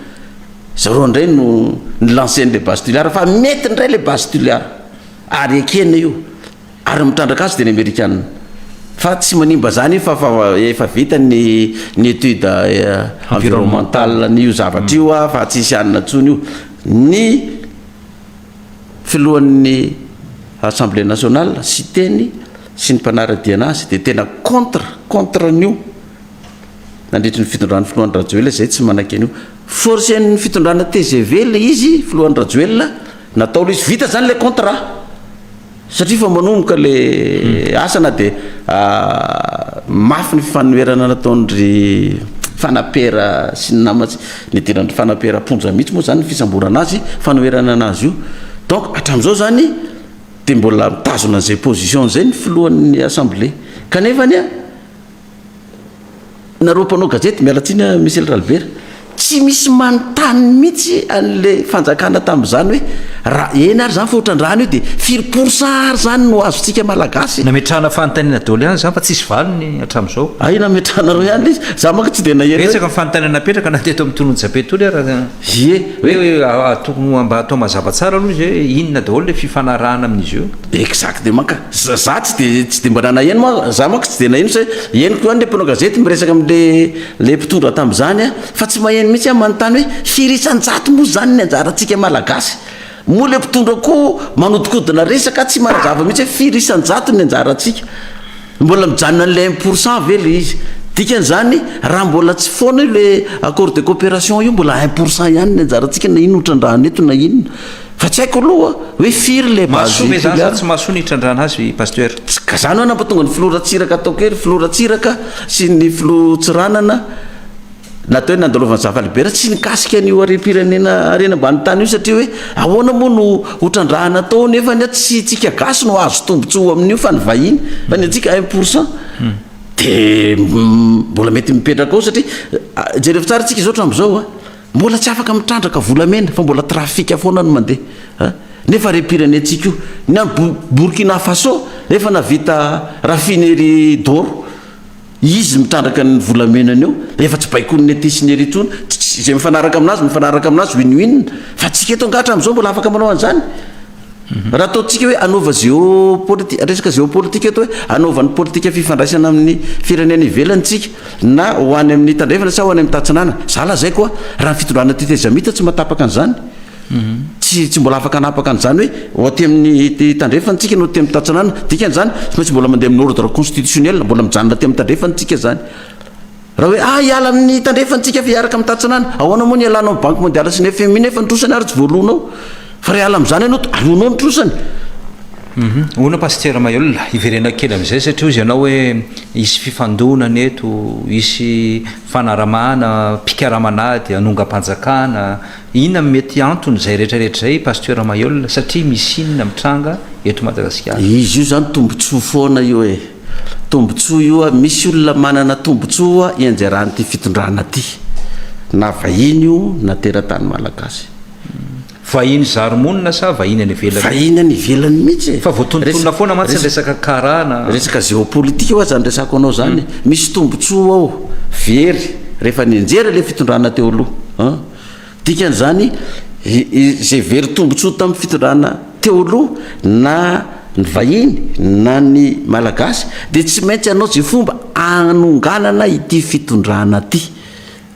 zareo indray no ni-lancer-ny le base Toliara fa mety indray le base Toliara. Ary ekena io. Ary ny mitrandraka azy dia ny amerikana. Fa tsy manimba za nefa fa efa vita ny ny étude environnementale an'io zavatra io ah, fa tsisy hanina intsony io. Ny filohan'ny assemblée nationale, Siteny, sy ny mpanara-diana azy dia tena contre, contre an'io nandritry ny fitondran'ny filoha Andry Rajoelina izay tsy manaiky an'io. Forcen'ny fitondrana tgv ilay izy, filoha Andry Rajoelina, natao ilay izy. Vita izany ilay contrat. Satria efa manomboka ilay asa na dia mafy ny fifanoherana nataon-dry Fanapera sy ny namany, nidiran-dry Fanapera am-ponja mihitsy moa izany ny fisamborana azy, fanoherana an'azy io. Donc hatramin'izao izany dia mbola mitazona an'izay position izay ny filohan'ny Assemblée. Kanefa anie, Nareo mpanao gazety miala tsiny an Michel Ralbert tsy misy manontany mihitsy anle fanjakana tamzany hoe ra eny ary zany fa otrandrano io de firy pourcent ary zany no azontsika malagasy? Nametrahana fanontaniana daholo ihany izany fa tsisy valiny hatramizao. Hay nametranareo ihany le izy, za manko tsy de naheno hoe. Betsaka ny fanontaniana napetraka na teto amin'ny tolon'i Jabe tolo ary aza. Ie, hoe tokony mba atao mazava tsara aloha izy hoe inona daholo le fifanarahana amin'izy io. Exactement ka. Za za tsy de tsy de mba nanaheno ma za manko tsy de naheno sa henoko ihany le mpanao gazety miresaka amle le mpitondra tamzany a fa tsy maheno mihitsy ah manontany hoe firy isanjato moa zany ny anjarantsika malagasy moa le mpitondra koa manodikodina resaka tsy manazava mihitsy hoe firy isanjato ny anjarantsika mbola mijanona anle un pour cent ve le izy dikanzany raha mbola tsy foana io le accord de coopération io mbola un pour cent ihany ny anjarantsika na ino trandrahana eto na inona Fa tsy haiko aloha hoe firy le base Mahasoa ve zany sa tsy mahasoa ny hitrandrahana azy Pasteur? Tsy ka zany hoe nampatonga ny filoha Ratsiraka ataoko hoe ry filoha Ratsiraka sy ny filoha Tsiranana na atao hoe nandalovan'ny zava-libera tsy nikasika an'io harem-pirenena harena ambany tany io satria hoe ahoana moa no ho trandrahana atao nefa anie tsy isika gasy no hahazo tombontsoa amin'io fa ny vahiny fa ny antsika un pour cent dia mbola mety mipetraka ao satria jereo tsara isika izao hatramin'izao a Mbola tsy afaka mitrandraka volamena fa mbola trafic foana no mandeha an! Nefa re pirenentsika io! Ny an'i Burkina Faso efa navita raffinerie d'or, izy mitrandraka ny volamenany eo dia efa tsy baikoin'ny ety sy ny ery intsony, tsy izay mifanaraka amin'azy mifanaraka amin'azy win win, fa antsika eto angaha hatramin'izao mbola afaka manao an'izany? Raha ataontsika hoe hanaova géopolitique, resaka géopolitique eto hoe hanaova ny politika fifandraisana amin'ny firenena ivelany tsika na ho any amin'ny tandrefana sa ho any amin'ny tatsinanana. Za lazaiko a, raha ny fitondrana tetezamita tsy mahatapaka an'izany, tsy tsy mbola afaka hanapaka an'izany hoe ho aty amin'ny tandrefana tsika na ho aty amin'ny tatsinanana, dikan'izany tsy maintsy mbola mandeha amin'ny ordre constitutionnel, mbola mijanona aty amin'ny tandrefana tsika zany. Raha hoe ah hiala amin'ny tandrefantsika fa hiaraka amin'ny tantsanana, ahoana moa ny hialanao amin'ny banky mondialy sy ny fmi nefa ny trosany ary tsy voaloanao? Fa raha hiala amin'izany ianao dia aloanao ny trosany. Hono Pasitera Mahelola, hiverenako kely amin'izay satria hozy ianao hoe hisy fifandonana eto, hisy fanaramahana mpikaramana ady hanongam-panjakana, inona no mety anton'izay rehetrarehetra izay Pasteur Mahelola satria misy inona mitranga eto Madagasikara? Izy io izany tombotsoa foana io e! Tombontsoa io a, misy olona manana tombontsoa ianjaran'ity fitondrana ty, na vahiny io na teratany malagasy. Vahiny zary monina sa vahiny any ivelany? Vahiny any ivelany mihitsy e! Fa voatonontonona foana mantsy ny resaka kara na. Resaka géopolitique hoa zany resako anao zany e! Misy tombontsoa ao very rehefa nianjera ilay fitondrana teo aloha an! Dikan'izany, izay very tombontsoa tamin'ny fitondrana teo aloha, na ny vahiny na ny Malagasy, dia tsy maintsy hanao izay fomba hanonganana ity fitondrana ity,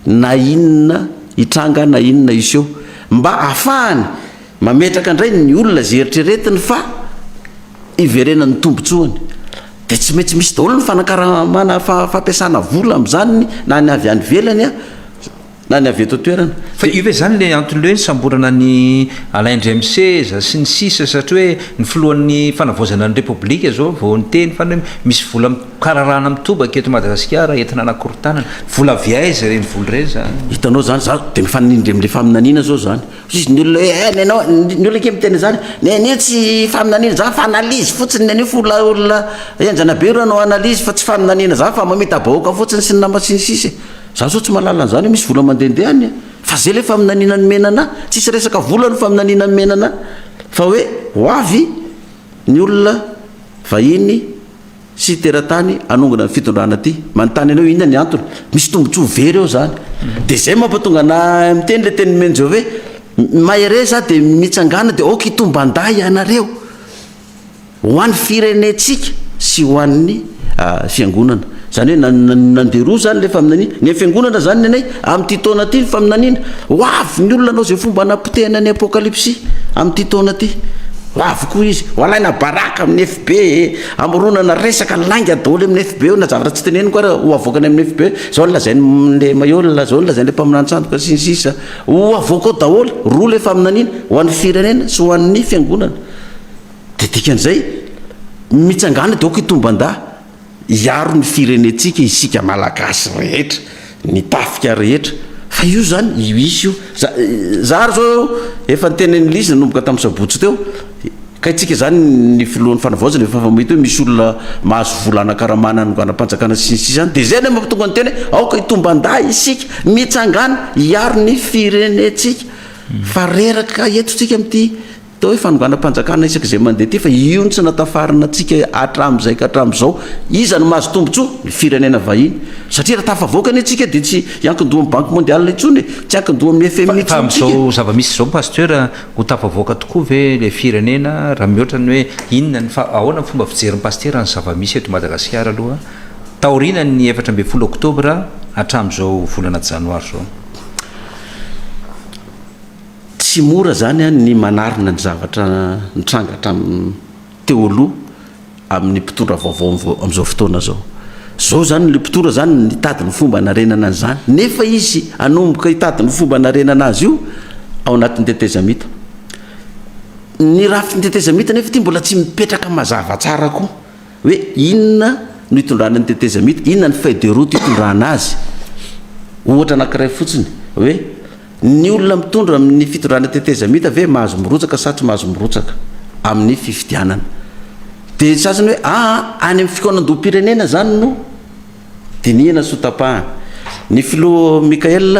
na inona hitranga na inona hiseho, mba hahafahany mametraka indray ny olona izay eritreretiny fa hiverenan'ny tombontsoany. Dia tsy maintsy misy daholo ny fanakaramana, fampiasana vola amin'izany, na ny avy any ivelany, Na ny avy eto an-toerana. Fa io ve izany ilay antony hoe nisamborana an'i Alain James Seza sy ny sisa satria hoe ny filohan'ny fanavaozana ny Repoblika izao vao niteny fa ny hoe misy vola mikararana mitobaka eto Madagasikara entina hanakorontanana. Vola avy aiza ireny vola ireny izany? Hitanao izany, izaho dia mifanindry amin'ilay faminaniana izao izany. Hoy ny olona hoe eh nenao, ny olona kely miteny an'izany, nenio tsy faminaniana izany fa analyse fotsiny nenio fa olona olona henjana be ireo no analyse fa tsy faminaniana izany fa mamita-bahoaka fotsiny sy ny nama sy ny sisa e. Za zao tsy mahalala an'zany hoe misy vola mandehandeha any an! Fa zay le faminaniana ny menana an! Tsisy resaka vola ny faminaniana ny menana an! Fa hoe ho avy ny olona vahiny sy teratany hanongana ny fitondrana ty! Manontany anao inona ny antony? Misy tombotsoa very ao zany! De zay mampatonga anahy miteny le teny nomen'i Jove hoe, mahereza de mitsangana de aoka hitomban-dahy ianareo! ho an'ny firenentsika sy ho an'ny fiangonana. Izany hoe nandeha roa izany ilay faminaniana. Ny an'ny fiangonana izany ny anay, amin'ity taona ity ny faminaniana, ho avy ny olona hanao izay fomba hanapotehana ny Apokalypsy amin'ity taona ity. Ho avy koa izy, ho alaina baraka amin'ny FB e, hamoronana resaka lainga daholo eo amin'ny FB eo, na zavatra tsy teneniko ary ho avoaka any amin'ny FB hoe izao no lazain'ilay Maillot, izao no lazain'ilay mpaminany sandoka sy ny sisa. Ho avoaka ao daholo, roa ilay faminaniana, ho an'ny firenena sy ho an'ny fiangonana. Dia dikan'izay, mitsangàna dia aoka hitomban-dà, hiaro ny firenentsika isika Malagasy rehetra, ny tafika rehetra, fa io izany, io hisy io. Za, za ary izao, efa niteny an'i Liza nanomboka tamin'ny sabotsy teo, kay tsika izany ny filohan'ny fanavaozana efa mahita hoe misy olona mahazo vola hanakaramana hanonganam-panjakana sy ny sisa any, dia izay no mahatonga ny tena hoe aoka hitomban-dà isika, mitsangàna, hiaro ny firenentsika, fa reraka eto tsika amin'ity. Atao hoe fanonganam-panjakana isaky izay mandeha aty fa io no tsy natafarina antsika hatramin'izay ka hatramin'izao. Iza no mahazo tombontsoa? Ny firenena vahiny. Satria raha tafavoaka anie tsika dia tsy hiankin-doha amin'ny Banky Mondial intsony e, tsy hiankin-doha amin'ny FMI intsony tsika. Fa amin'izao zava-misy izao Pasteur, ho tafavoaka tokoa ve ilay firenena raha mihoatra ny hoe inona ny, ahoana ny fomba fijerin'i Pasitera ny zava-misy eto Madagasikara aloha taorianan'ny efatra ambin'ny folo oktobra hatramin'izao volana janoary izao? Tsy mora izany ny manarina ny zavatra nitranga hatramin'ny teo aloha amin'ny mpitondra vaovao amin'izao fotoana izao. Izao izany ilay mpitondra izany nitady ny fomba hanarenana an'izany, nefa izy hanomboka hitady ny fomba hanarenana azy io ao anatin'ny tetezamita. Ny rafitry ny tetezamita nefa ity mbola tsy mipetraka mazava tsara koa. Hoe inona no itondrany ny tetezamita, inona ny feuille de route itondrana azy. Ohatra anankiray fotsiny, hoe ny olona mitondra amin'ny fitondrana tetezamita ve mahazo mirotsaka sa tsy mahazo mirotsaka amin'ny fifidianana. Dia ny sasany hoe aa, any amin'ny fikaonandoham-pirenena izany no. dinihana sy ho tapahana. Ny filoha Michael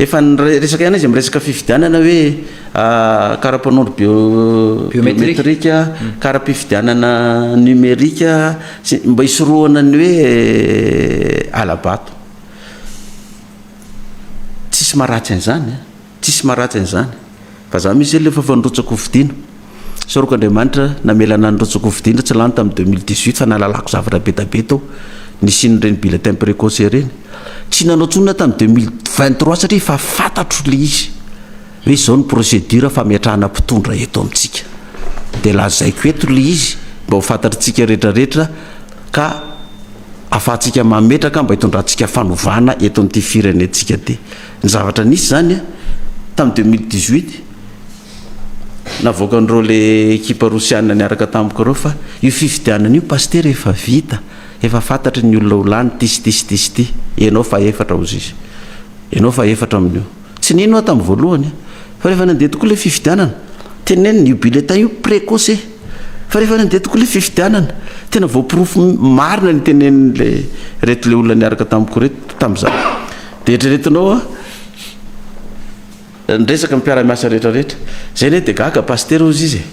efa niresaka ihany izy amin'ny resaka fifidianana hoe kara-panondro biometrika, kara-pifidianana numerika sy mba hisorohana ny hoe hala-bato. Tsisy maha ratsy an'izany an! Tsisy maharatsy an'izany. Fa za mihintsy ilay efa nirotsaky ho fidiana. Soroko Andriamanitra namela anah nirotsaky ho fidiana tsy lany tamin'ny deux mille dix huit fa nahalalako zavatra be da be tao nisian'ireny bulletin precoce ireny. Tsy nanao intsony aho tamin'ny deux mille vingt trois satria efa fantatro ilay izy hoe izao ny procédure fametrahana mpitondra eto amintsika. Dia lazaiko eto ilay izy mba ho fantatr'itsika rehetra rehetra ka afahantsika mametraka mba hitondrantsika fanovana eto amin'ity firenentsika ity. Ny zavatra nisy izany tamin'ny deux mille dix huit, navoakan'ireo ilay ekipa rosiana niaraka tamiko ireo fa io fifidianana io Pasitera efa vita, efa fantatry ny olona ho lany ity sy ity sy ity sy ity, ianao fahefatra hozy izy, ianao fahefatra amin'io. Tsy nino aho tamin'ny voalohany fa rehefa nandeha tokoa ilay fifidianana, tenenina io bulletin io precoce fa rehefa nandeha tokoa ilay fifidianana, tena voaporofo marina ny tenenin'ilay, ireto ilay olona niaraka tamiko ireto tamin'izany. Dia eritreretinao an, ny resaka ny mpiara-miasa rehetra rehetra. Izay anie dia gaga, Pasitera hozy izy e.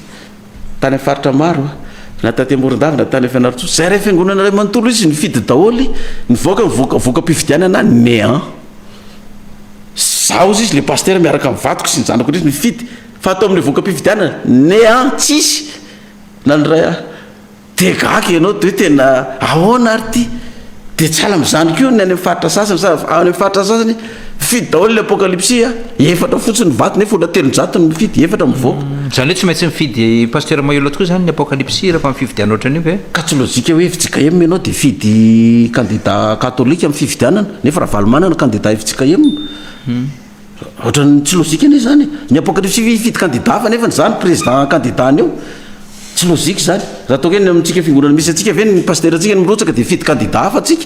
Tany amin'ny faritra maro an, na taty Morondava na tany Fianarantsoa, izay iray fiangonana iray manontolo izy nifidy daholo, nivoaka ny voka, voka-pifidianana néant. Izaho hozy izy ilay Pasitera miaraka amin'ny vadiko sy ny zanako indrisy nifidy, fa tao amin'ilay voka-pifidianana, néant, tsisy nandray ahy. Dia gaga ianao dia hoe tena ahoana ary ity? Dia tsy ala amin'izany koa ny any amin'ny faritra sasany sa any amin'ny faritra sasany mifidy daholo ilay apokalipsy a! Efatra fotsiny ny vato nefa olona telonjato no mifidy, efatra mivoaka. Izany hoe tsy maintsy mifidy Pasteur Maillot koa izany ny apokalipsy rehefa amin'ny fifidianana ohatran'io ve? Ka tsy lojika hoe fjkm ianao dia hifidy kandida katolika amin'ny fifidianana nefa Ravalomanana kandida fjkm. Ohatran'ny tsy logique anie zany e. Ny apocalypse ve hifidy candidat fa nefany za no président candidat anio? Tsy logique zany. Raha toa ka ny amintsika fiangonana misy antsika ve ny pasitera antsika no mirotsaka dia hifidy candidat hafa antsika?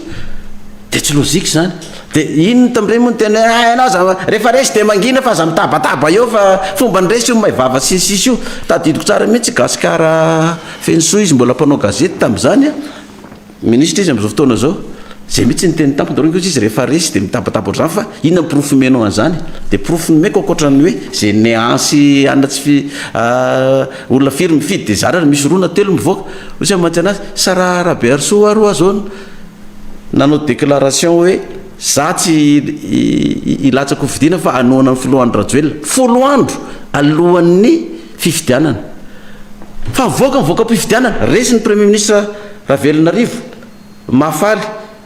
Dia tsy logique zany. Dia iny ny tambien moa no tena hoe hay anao aza rehefa resy dia mangina fa aza mitabataba eo fa fomba ny resy io may vava sy ny sisa io. Tadidiko tsara mihitsy i Gasikara Fenosoa izy mbola mpanao gazety tamin'izany a. Ministra izy amin'izao fotoana izao. Izay mihitsy no teny tamiko nareo kosa izy rehefa resy dia mitabataba ohatr'izany fa inona ny porofo omenao an'izany? Dia porofo nomeko ankoatran'ny hoe izay nean'sy anona tsy fi olona firy mifidy dia zara raha misy roa na telo mivoaka. Hoy izy mamatsy anazy, sa raha Rabeharisoa hoa ro azo no nanao déclaration hoe za tsy hilatsaka hofidiana fa hanohana ny filoha Andry Rajoelina. Folo andro alohan'ny. Fifidianana. Fa mivoaka ny voka-pifidianana, resy ny Premier Ministre Ravelonarivo, Mahafaly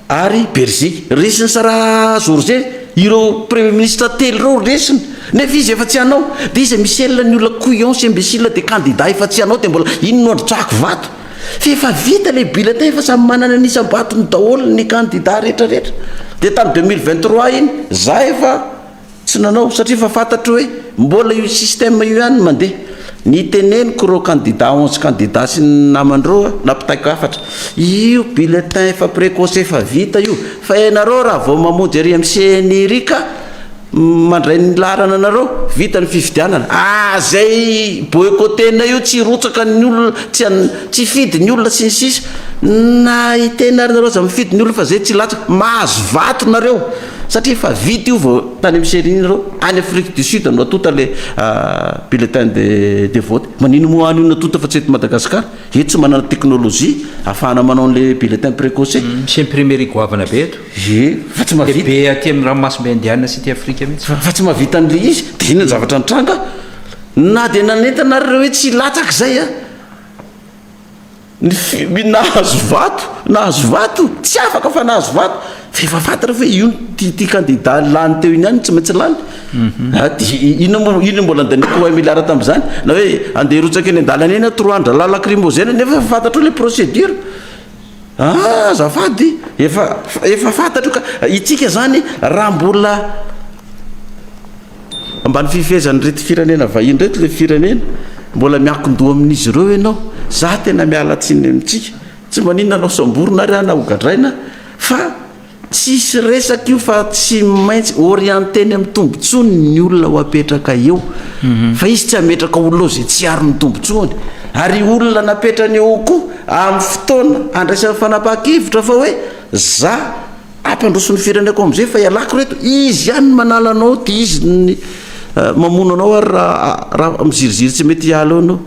ary Berger. Resin'i Sarah George ireo Premier Ministre telo ireo resiny. Nefa izy efa tsy hanao. Dia iza Michel ny olona couillons sy imbéciles dia candidat efa tsy hanao dia mbola iny no androtsahako vato. Fa efa vita ilay bulletin efa samy manana ny isam-batony daholo ny candidat rehetra rehetra. Dia tamin'ny deux mille vingt trois iny za efa. Tsy nanao satria efa fantatro hoe mbola io système io ihany no mandeha. Niteneniko ireo kandida onze kandida sy ny namandreo aho nampitaiko hafatra. Io bulletin efa precoce efa vita io fa ianareo raha vao mamonjy ery amin'ny ceni ery ka mandray ny laharana anareo vita ny fifidianana ah zay boycotter-na io tsy hirotsaka ny olona tsy an tsy hifidy ny olona sy ny sisa na hiteny ary nareo aza mifidy ny olona fa zay tsy hilatsaka. Mahazo vato nareo. Satria efa vita io vao tany amin'ny serie iny ireo. Any Afrique du Sud no atonta ilay bulletin de de vote. Manino moa any io no atonta fa tsy eto Madagascar? Eto tsy manana technologie ahafahana manao an'ilay bulletin precoce. Misy imprimerie goavana be eto. Ie, fa tsy mahavita. Dia be aty amin'ny ranomasimbe Indiana sy aty Afrika mihitsy. Fa fa tsy mahavita an'ilay izy. Dia inona ny zavatra nitranga? Na dia nanentana ary ireo hoe tsy hilatsaka izay an! Ny fimby nahazo vato, nahazo vato, tsy afaka fa nahazo vato, fa efa fantatra fa io ity kandida lany teo iny ihany tsy maintsy lany. Mhm. Ah, dia inona moa, inona mbola andaniako un milliard tamin'izany? Na hoe andeha hirotsaka eny an-dalana eny an, trois an-drahalahy lacrymogène nefa efa fantatrao ilay procédure. Ah, azafady, efa, efa fantatro ka, itsika izany raha mbola. Mba ny fifehezan'ireto firenena vahiny ireto ilay firenena mbola miankin-doha amin'izy ireo ianao. Izaho tena miala tsiny amintsika. Tsy maninona anao samborina ary aho na hogadraina fa tsisy resaka io fa tsy maintsy orienteny amin'ny tombotsoany ny olona ho apetraka eo. Mhm. Fa izy tsy hametraka olona eo izay tsy aro ny tombotsoany. Ary olona napetrany eo koa amin'ny fotoana handraisany fanapahan-kevitra fa hoe za Ampandroso ny fireneko amzay fa ialako reto, izy ihany ny manala anao dia izy ny mamono anao ary raha raha miziriziry tsy mety hiala eo anao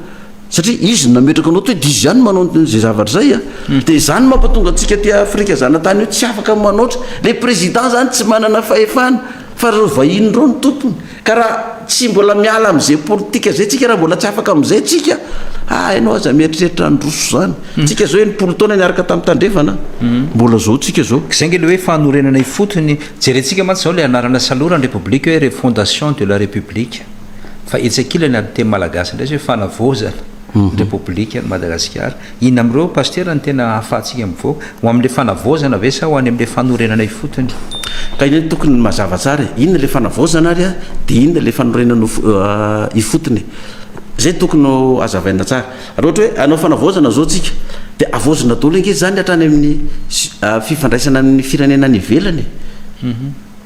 satria izy no nametraka anao toy dia izy ihany manao izay zavatra zay a hmm. dia izany mampatonga antsika aty Afrika zanatany io tsy afaka manaotra le président zany tsy manana fahefana fa reo vahiny reo ny tompony Ka raha tsy mbola miala amin'izay politika izay tsika, raha mbola tsy afaka amin'izay tsika, ah ianao aza mieritreritra handroso izany. Tsika izao enimpolo taona niaraka tamin'ny Tandrefana, mbola izao tsika izao. Izay ange ilay hoe fanorenana ifotony. Jerentsika mantsy izao ilay anarana saloran'ny Repoblika hoe Refondation de la République. Fa etsy ankilany amin'ny teny malagasy indray izay hoe fanavaozana ny Repoblikan'i Madagasikara. Inona amin'ireo pasitera no tena ahafahantsika mivoaka? Ho amin'ilay fanavaozana ve sa ho any amin'ilay fanorenana ifotony? Ka ireny tokony ny mazava tsara e! Inona ilay fanavaozana ary a? Dia inona ilay fanorenana ifotony e? Izay tokony ho azavaina tsara. Raha ohatra hoe hanao fanavaozana izao tsika dia avaozina daholo ange izany hatrany amin'ny fifandraisana amin'ny firenena any ivelany e!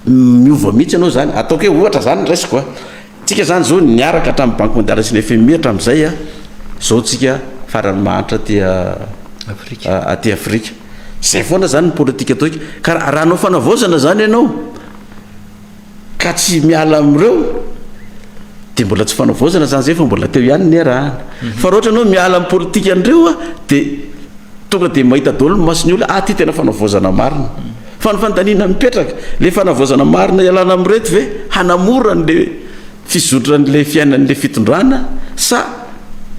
Miova mihitsy ianao izany. Ataoko hoe ohatra izany ny raisiko a! Tsika zany zao niaraka hatramin'ny banque mondiale sy ny fmi hatramin'izay a, zao tsika farany mahantra aty aty afrika. Zay foana zany ny politika atao ika. Ka raha hanao fanavaozana zany ianao ka tsy miala amin'ireo de mbola tsy fanavaozana zany zay fa mbola teo ihany ny iarahana. Fa raha ohatra ianao miala amin'ny politika an'ireo a de tonga de mahita daholo ny mason'ny olona, ah ty tena fanavaozana marina. Fa ny fanontaniana mipetraka, le fanavaozana marina ialana amin'ireto ve hanamora an'le fizotran'le fiainan'le fitondrana sa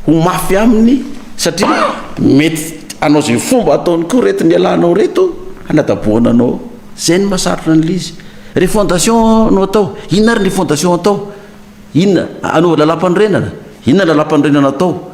ho mafy aminy satria mety hanao ze fomba ataony koa reto ny ialanao reto hanadabohana anao, zay no mahasarotra an'le izy. Refondation no atao, inona ary ny refondation atao? Inona? Hanova lalàmpanorenana? Inona ny lalàmpanorenana atao?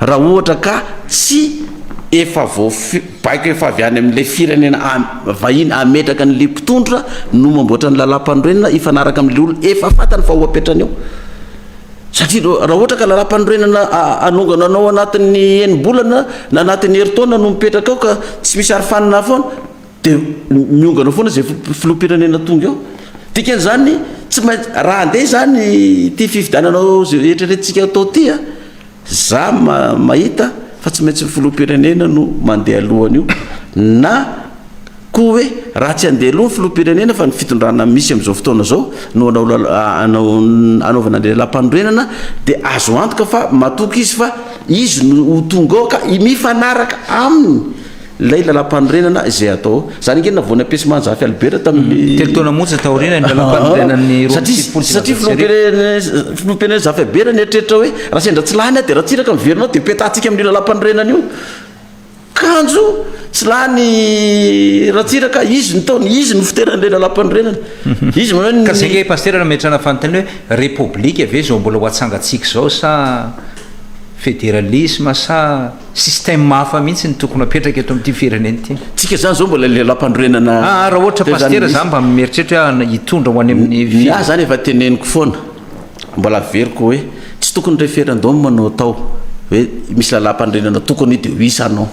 Raha ohatra ka tsy efa voafy baiko efa avy any amin'ilay firenena vahiny hametraka an'ilay mpitondra no mamboatra ny lalàmpanorenana hifanaraka amin'ilay olona efa fantany fa ho apetrany ao. Satria raha ohatra ka lalàmpanorenana anonganao anao anatin'ny enim-bolana na anatin'ny herintaona no mipetraka ao ka tsy misy arofanina foana dia miongana foana izay filoham-pirenena tonga eo. Dikan'izany tsy maintsy, raha handeha izany ity fifidianana eritreretintsika atao ity a, Za mahita fa tsy maintsy ny filoham-pirenena no mandeha aloha an'io na koa hoe raha tsy handeha aloha ny filoham-pirenena fa ny fitondrana misy amin'izao fotoana izao no hanao hanaovana ilay lampanorenana dia azo antoka fa matoky izy fa izy no ho tonga ao ka mifanaraka aminy Ilay lalam-panorenana izay hatao. Izany ange navoa ny Apesy Manjafy Albert tamin'ny. Mm, telo taona monja taoriana ny lalam-panorenan'ny roa amby sivifolo sy Satria filoham-pirenena filoham-pirenena Zafy Albert nieritreritra hoe raha sendra tsy lany aho dia Ratsiraka miverina ao dia petahantsika amin'io lalam-panorenana io. Kanjo tsy lany Ratsiraka, izy no taony, izy no fiteran'ilay lalam-panorenana. Mhm. Izy manao ny Ka zay nge pastera no ametrahana fanontaniana hoe repoblika ve izao mbola ho atsangantsika izao sa federalisma sa Système hafa mihitsy no tokony hapetraka eto amin'ity firenena ity. Tsika zany zao mbola lelampanorenana. Aa raha ohatra pasitera za mba mieritreritra hoe hitondra ho any amin'ny fil. Ny ahy zany efa teneniko foana, mbola averiko hoe tsy tokony referendum no atao hoe misy lalampanorenana tokony de oui sa non.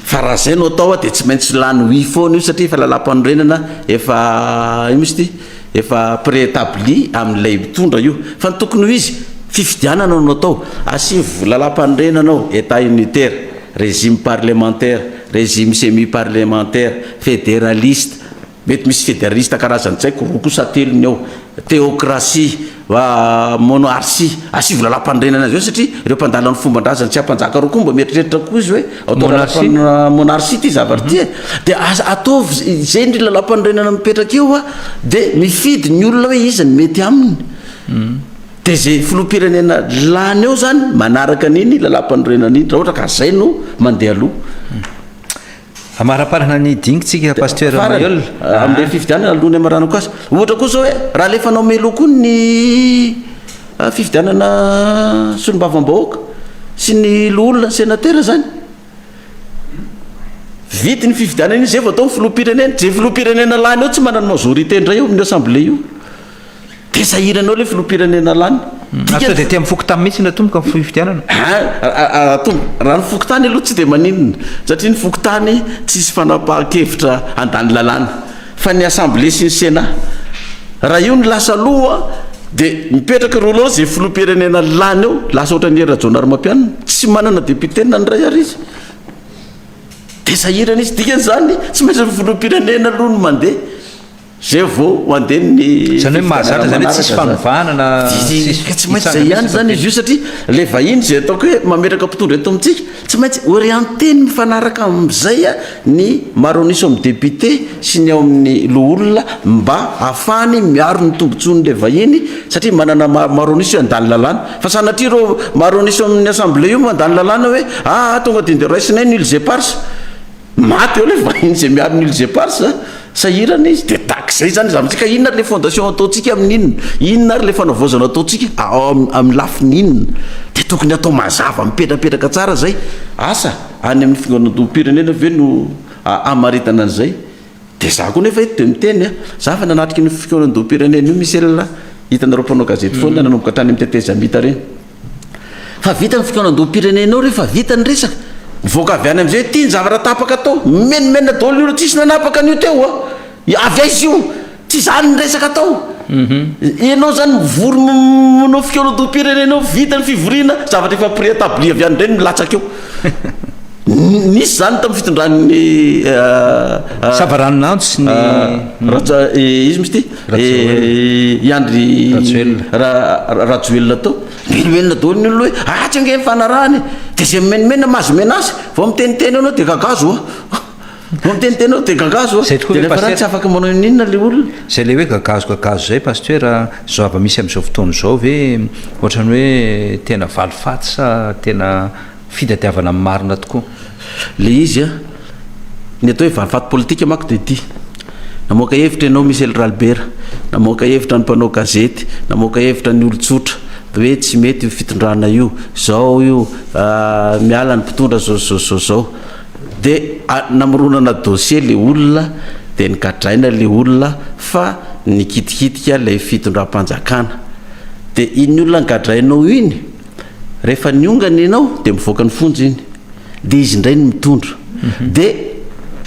Fa raha zay no atao dia tsy maintsy lany oui foana io satria efa lalam-panorenana efa ino moa izy ity efa préétabli amin'ilay mitondra io. Fa ny tokony ho izy, fifidianana no atao, asivo lalam-panorenana ao, Etat unitaire, régime parlementaire, régime semi-parlementaire, fédéraliste, Mety misy federalista karazan'ny tsaiko roa kosa telo ny ao, teokrasia, va monarsia. Asivo lalam-panorenana azy eo satria ireo mpandala ny fomban-drazany tsy ampanjaka roa koa mba mieritreritra koa izy hoe ao tao lalam-panorenana monarsia ity zavatra ity e. Dia aza ataovy izay indry lalam-panorenana mipetraka eo a, dia mifidy ny olona hoe iza ny mety aminy. Dia izay filoham-pirenena lany eo izany manaraka an'iny lalam-panorenana iny raha ohatra ka izay no mandeha aloha. Amaraparana ny dingintsika Pasteur Maheul a. Amin'ilay fifidianana aloha ny amarana koa aza. Ohatra koa izao hoe raha alefanao meloa koa ny fifidianana solombavambahoaka sy ny loholona senatera izany. Vita iny fifidianana iny izay vao atao ny filoham-pirenena. Izay filoham-pirenena lany eo tsy manana majorité indray eo amin'ny assemblée io. Dia sahiranao ilay filoham-pirenena lany. Ary sao dia aty amin'ny fokontany mihitsy no atomboka ny fifidianana? Aa atomboka, raha ny fokontany aloha tsy dia maninona satria ny fokontany tsy hisy fanapahan-kevitra handany lalàna fa ny assemblée sy ny sénat. Raha io no lasa aloha dia mipetraka eo daholo izay filoham-pirenena lany eo, lasa ohatran'i Hery Rajaonarimampianina, tsy manana député na ny iray ary izy. Dia sahirana izy, dikan'izany tsy maintsy ny filoham-pirenena aloha no mandeha. Zay vao ho andeha ny fifidianana manaraka. Zany hoe mahazatra zany hoe tsisy fanovana na tsisy hitsangana. Tsy maintsy zay ihany zany izy io satria le vahiny zay ataoko hoe mametraka mpitondra eto amintsika tsy maintsy orienteny mifanaraka amin'izay ny maro an'iso amin'ny député sy ny ao amin'ny loholona mba hahafahany miaro ny tombotsoan'le vahiny satria manana maro maro an'iso io handany lalàna fa sanatria reo maro an'iso amin'ny assemblée io mandany lalàna hoe aa tonga de nde raisinay nul eparses Maty eo le vahiny zay miaro ny îles éparses a! Sahirana izy de tak zay zany izy amintsika inona ary le fondation ataontsika amin'inona? Inona ary le fanavaozana ataontsika ao amin'ny lafiny inona? De tokony atao mazava mipetrapetraka tsara zay asa any amin'ny figonandoham-pirenena ve no hamaritana an'izay? De za koa nefa eto de miteny a! Za efa nanatrika io fikaonandoham-pirenena io Michel a! Hitanareo mpanao gazety foana nanomboka tany amin'ny tetezamita reny. Fa vita ny fikaonandoham-pirenenao re fa vita ny resaka. Mivoaka avy any amin'izay hoe ity ny zavatra tapaka tao. Mimenomenona daholo ny olona tsisy nanapaka an'io teo a! Avy aiza io? Tsy izany ny resaka tao. Ianao izany mivory manao fikaonandoham-pirenenao, vita ny fivoriana, zavatra efa préétabli avy any indray no milatsaka eo. Nisy izany tamin'ny fitondran'ny Savaranonantsy ny Raja, izy misti. Eh, i Andry Rajoelina. Ra- Rajoelina tao. Menomenona daholo ny olona hoe ratsy ange ny fanarahana e. Dia izay mimenomenona mahazo menace. Vao miteniteny ianao dia gagazo hoa. Vao miteniteny ianao dia gagazo hoa. Izay tokoa Dia ve, rehefa raha Pasteur? tsy afaka manao inona ilay olona. Izay ilay hoe gagazo gagazo izay Pasteur, izao zava-misy amin'izao fotoana izao ve ohatran'ny hoe tena valifaty sa tena fitadiavana marina tokoa le izy a! Ny atao hoe valifaty politika manko dia ity, namoaka hevitra ianao Michel Ralibera, namoaka hevitra ny mpanao gazety, namoaka hevitra ny olon-tsotra hoe tsy mety io fitondrana io, zao io, miala ny mpitondra zao zao zao zao, de namoronana dossier le olona de nogadraina le olona fa nikitikitika ilay fitondram-panjakana, de iny olona nogadrainao iny, Rehefa niongana ianao dia mivoaka ny fonja iny dia izy indray no mitondra dia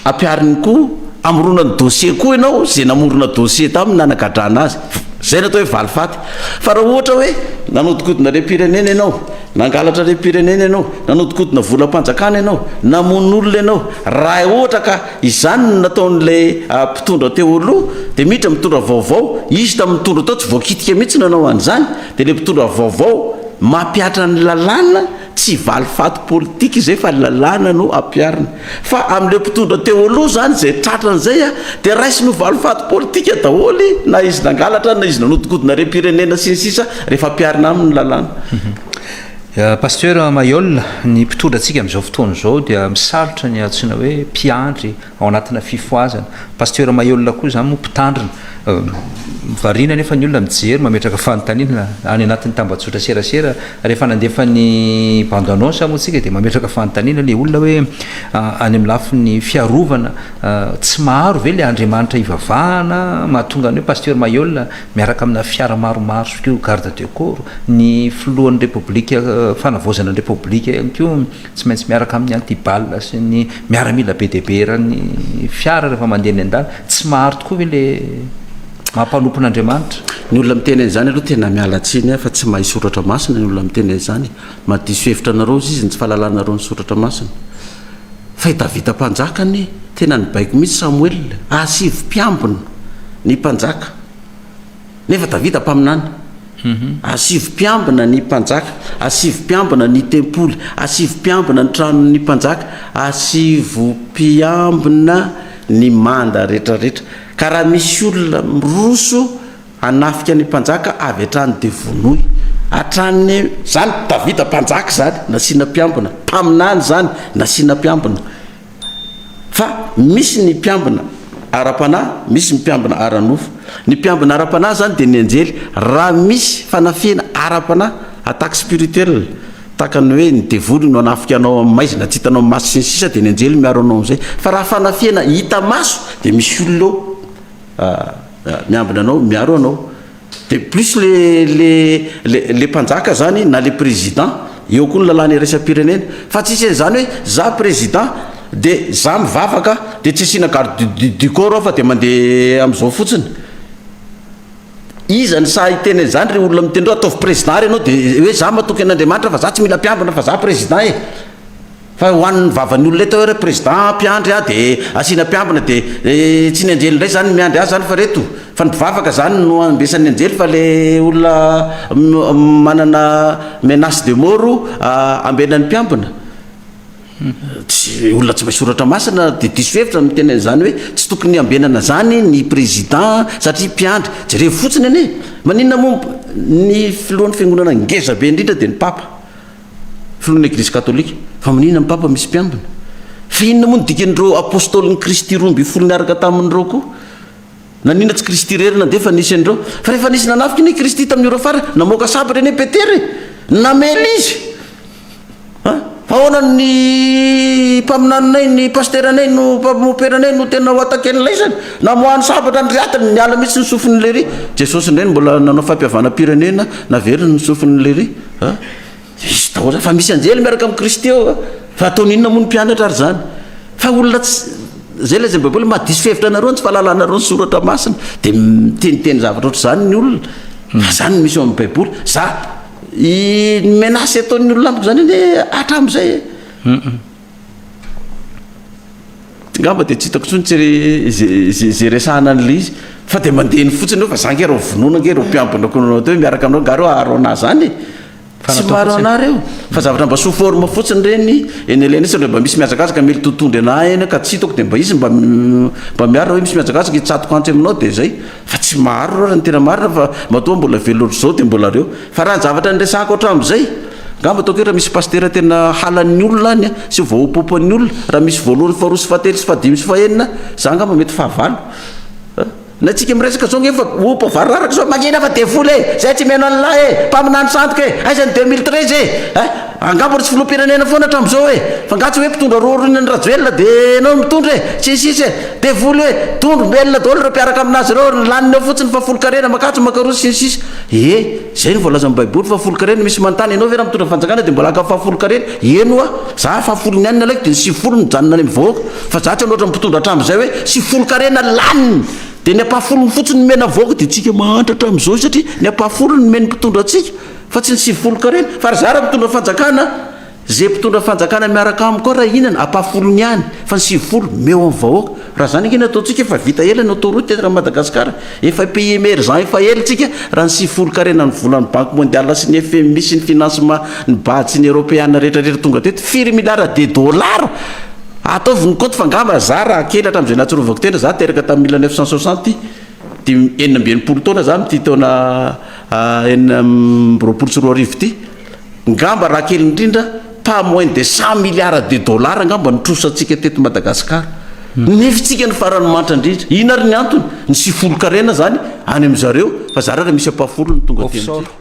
ampihariny koa hamorona ny dossier koa ianao izay namorona dossier taminy nanagadrana azy izay no atao hoe valifaty fa raha ohatra hoe nanodikodina harem-pirenena ianao nangalatra harem-pirenena ianao nanodikodina volam-panjakana ianao namono olona ianao raha ohatra ka izany no nataon'ilay mpitondra teo aloha dia miditra mitondra vaovao izy tamin'ny nitondra tao tsy voakitika mihitsy ny nanao an'izany Dia ilay mpitondra vaovao mampihatra ny lalàna, tsy valifaty politika izay fa ny lalàna no ampiharina. Fa amin'ilay mpitondra teo aloha izany izay tratra an'izay dia raisiny ho valifaty politika daholo na izy nangalatra na izy nanodinkodina harem-pirenena sy ny sisa rehefa ampiharina aminy ny lalàna. Pasteur Mailhol, ny mpitondra antsika amin'izao fotoana izao dia misarotra ny antsoina hoe mpiandry ao anatina fifohazana. Pasteur Maheulona koa izany moa mpitandrina. Variana anefa ny olona mijery, mametraka fanontaniana any anatin'ny tambajotra serasera. Rehefa nandefa ny bande annonce moa isika dia mametraka fanontaniana ilay olona hoe any amin'ny lafiny fiarovana tsy maro ve ilay Andriamanitra hivavahana mahatonga ny hoe Pasteur Maheulona miaraka amina fiara maromaro sy koa garde de corps, ny filohan'ny Repoblika, fanavaozana ny Repoblika ihany koa. Tsy maintsy miaraka amin'ny anti-bal sy ny miaramila be dia be eran'ny fiara rehefa mandeha eny an-dalana. Tsy mahary tokoa ve le mampanompon' Andriamanitra? Ny olona miteny an'izany aloha tena miala tsiny ahy fa tsy mahay soratra masina ny olona miteny an'izany e! Mahadiso hevitra anareo izy ny tsy fahalalanareo ny soratra masina. Fa i Davida mpanjaka anie tena nibaiko mihitsy Samoela a! Sivy mpiambina ny mpanjaka. Nefa Davida mpaminany, Asivo mpiambina ny mpanjaka, asivo mpiambina ny tempoly, asivo mpiambina ny tranon'ny mpanjaka, asivo mpiambina ny manda rehetrarehetra, ka raha misy olona miroso hanafika ny mpanjaka avy hatrany dia vonoy hatrany. Izany Davida mpanjaka izany nasiana mpiambina, mpaminany izany nasiana mpiambina. Fa misy ny mpiambina ara-panahy, misy ny mpiambina ara-nofo. Ny mpiambina ara-panahy izany dia ny anjely. Raha misy fanafihana ara-panahy, attaque spirituelle, tahaka ny hoe ny devoly no hanafika anao amin'ny maizina, tsy hitanao amin'ny maso sy ny sisa dia ny anjely miaro anao amin'izay. Fa raha fanafihana hita maso dia misy olona ao miambina anao, miaro anao. De plus le le le le mpanjaka zany na le président eo koa ny lalàna iraisam-pirenena fa tsisy an'izany hoe za président de za mivavaka de tsy asiana garde du du corps ao fa de mande am'zao fotsiny. Iza no sahy hiteny an'izany ry olona miteny reo ataovy président ary ianao de hoe za matoky an'Andriamanitra fa za tsy mila mpiambina fa za président e. Fa ho an'ny vavan'ny olona eto re président mpiandry ah dia asiana mpiambina dia tsy ny anjely indray izany no miandry azy izany fa reto fa ny mpivavaka izany no andesan'ny anjely fa le olona manana menace de moro ambenan'ny mpiambina tsy olona tsy mahay soratra masina dia diso hevitra ny miteny an'izany hoe tsy tokony ambenana izany ny président satria mpiandry jerevo fotsiny anie maninona moa ny filohan'ny fiangonana ngeza be indrindra dia ny papa Filohan'ny Eglizy Katolika, Fa maninona ny Papa misy mpiambina? Fa inona moa no dikan'ireo Apôstôlin'i Kristy roa ambin'ny folo niaraka taminy ireo koa? Naninona tsy Kristy irery nandefa nisy an'ireo? Fa rehefa nisy nanafika anie Kristy tamin'ny ora farany, namoaka sabatra anie Petera e! Namely izy! Ha? Fa ahoana ny mpaminaninay, ny pasteranay, no mpamoperanay no tena ho ataken'ilay izany? Namoahany sabatra ny rehatiny, niala mihitsy ny sofin'i Lery. Jesosy indray no mbola nanao fampihavanam-pirenena, naveriny ny sofin'i Lery. Ha? Diso taona fa misy anjely miaraka amin'i Kristy ao a! Fa ataony inona moa ny mpianatra ary izany? Fa olona tsy, izay lazain'ny Baiboly, maha diso fihevitra anareo ny tsy fahalalanareo ny soratra masina. Dia miteniteny zavatra ohatr'izany ny olona. Fa izany no misy ao amin'ny Baiboly. Za, i, ny menace ataon'ny olona amiko izany anie hatramin'izay e. Ngamba dia tsy hitako intsony tsy izay izay resahana an'ilay izy fa dia mandeha eny fotsiny hoe fa za nge reo vonoina nge reo mpiambina ko nanao teo miaraka aminao nga reo aharo anah zany e tsy maharo anah reo fa zavatra mba sous forme fotsiny ireny eny alaina satria mba misy mihazakazaka mely totondry anah eny ka tsy hitako dia mba izy mba mba miaro raha hoe misy mihazakazaka hitsatoka antsy aminao dia zay Fa tsy maro loatra ny tena marina fa matoa mbola velona ohatr'izao dia mbola reo. Fa raha ny zavatra niresahako hatramin'izay, angamba ataoko hetra misy pasitera tena halan'ny olona any sy voahopopoan'ny olona, raha misy voalohany sy faharoa sy fahatelo sy fahadimy sy fahenina, za angamba mety fahavalo. Ny antsika miresaka izao ange efa ho mpivaro raraka izao, mangina fa devoly e! Zay tsy mino an'lah e! Mpaminany sandoka e! Aiza ny deux mille treize e! Angamba tsy filoham-pirenena foana hatramin'izao e! Fa nga tsy hoe mpitondra roa aoriana an'i Rajoelina de enao no mitondra e! Tsy hisy hisy e! Devoly e! Dondro mbelona daholo ireo mpiaraka aminazy ireo, ny laniny ao fotsiny fa folo karena makatso makaroa sy ny sisa ee! Zay no voalazan'ny baiboly fa folo karena misy manontany enao ve raha mitondra fanjakana de mbola haka fahafolo karena? Eny oa! Za fahafolony ihany ny alaiko de ny sivifolo no mijanona any amin'ny vahoaka fa za tsy hanoatra ny mpitondra hatramin'izay hoe sivifolo karena laniny de ny ampahafolony fotsiny no omena vahoaka de tsika mahantra hatramin'izao satria ny ampahafolony no omen'ny mpitondra antsika! Fa tsy ny sivifolo carré ny. Fa ry zara mitondra fanjakana Ze mpitondra fanjakana miaraka amiko ao raha hihinana ampahafolony ihany fa ny sivifolo meo amin'ny vahoaka raha zany ange no ataontsika efa vita ela ny autoroute eto Madagascar efa pays emergent efa ela tsika raha ny sivifolo carré na ny volan'ny banque mondiale sy ny fmi sy ny financement ny bad sy ny europeana rehetra rehetra tonga teto firy milliards de dollars ataovy ny compte fa angamba za raha kely hatramin'izay nahatsiarovako tena za teraka tamin'ny mille neuf cent soixante dimy enina amby enimpolo taona za amin'ity taona enina amby roapolo sy roa arivo ity, ngamba raha kely indrindra pas moins de cent milliards de dollars ngamba no trosantsika teto Madagasikara. Nefitsika ny farany mantra indrindra. Inona ary ny antony? Ny sifolon-karena izany any amin-dry zareo fa zara raha misy ampahafolony ny tonga aty amintsika.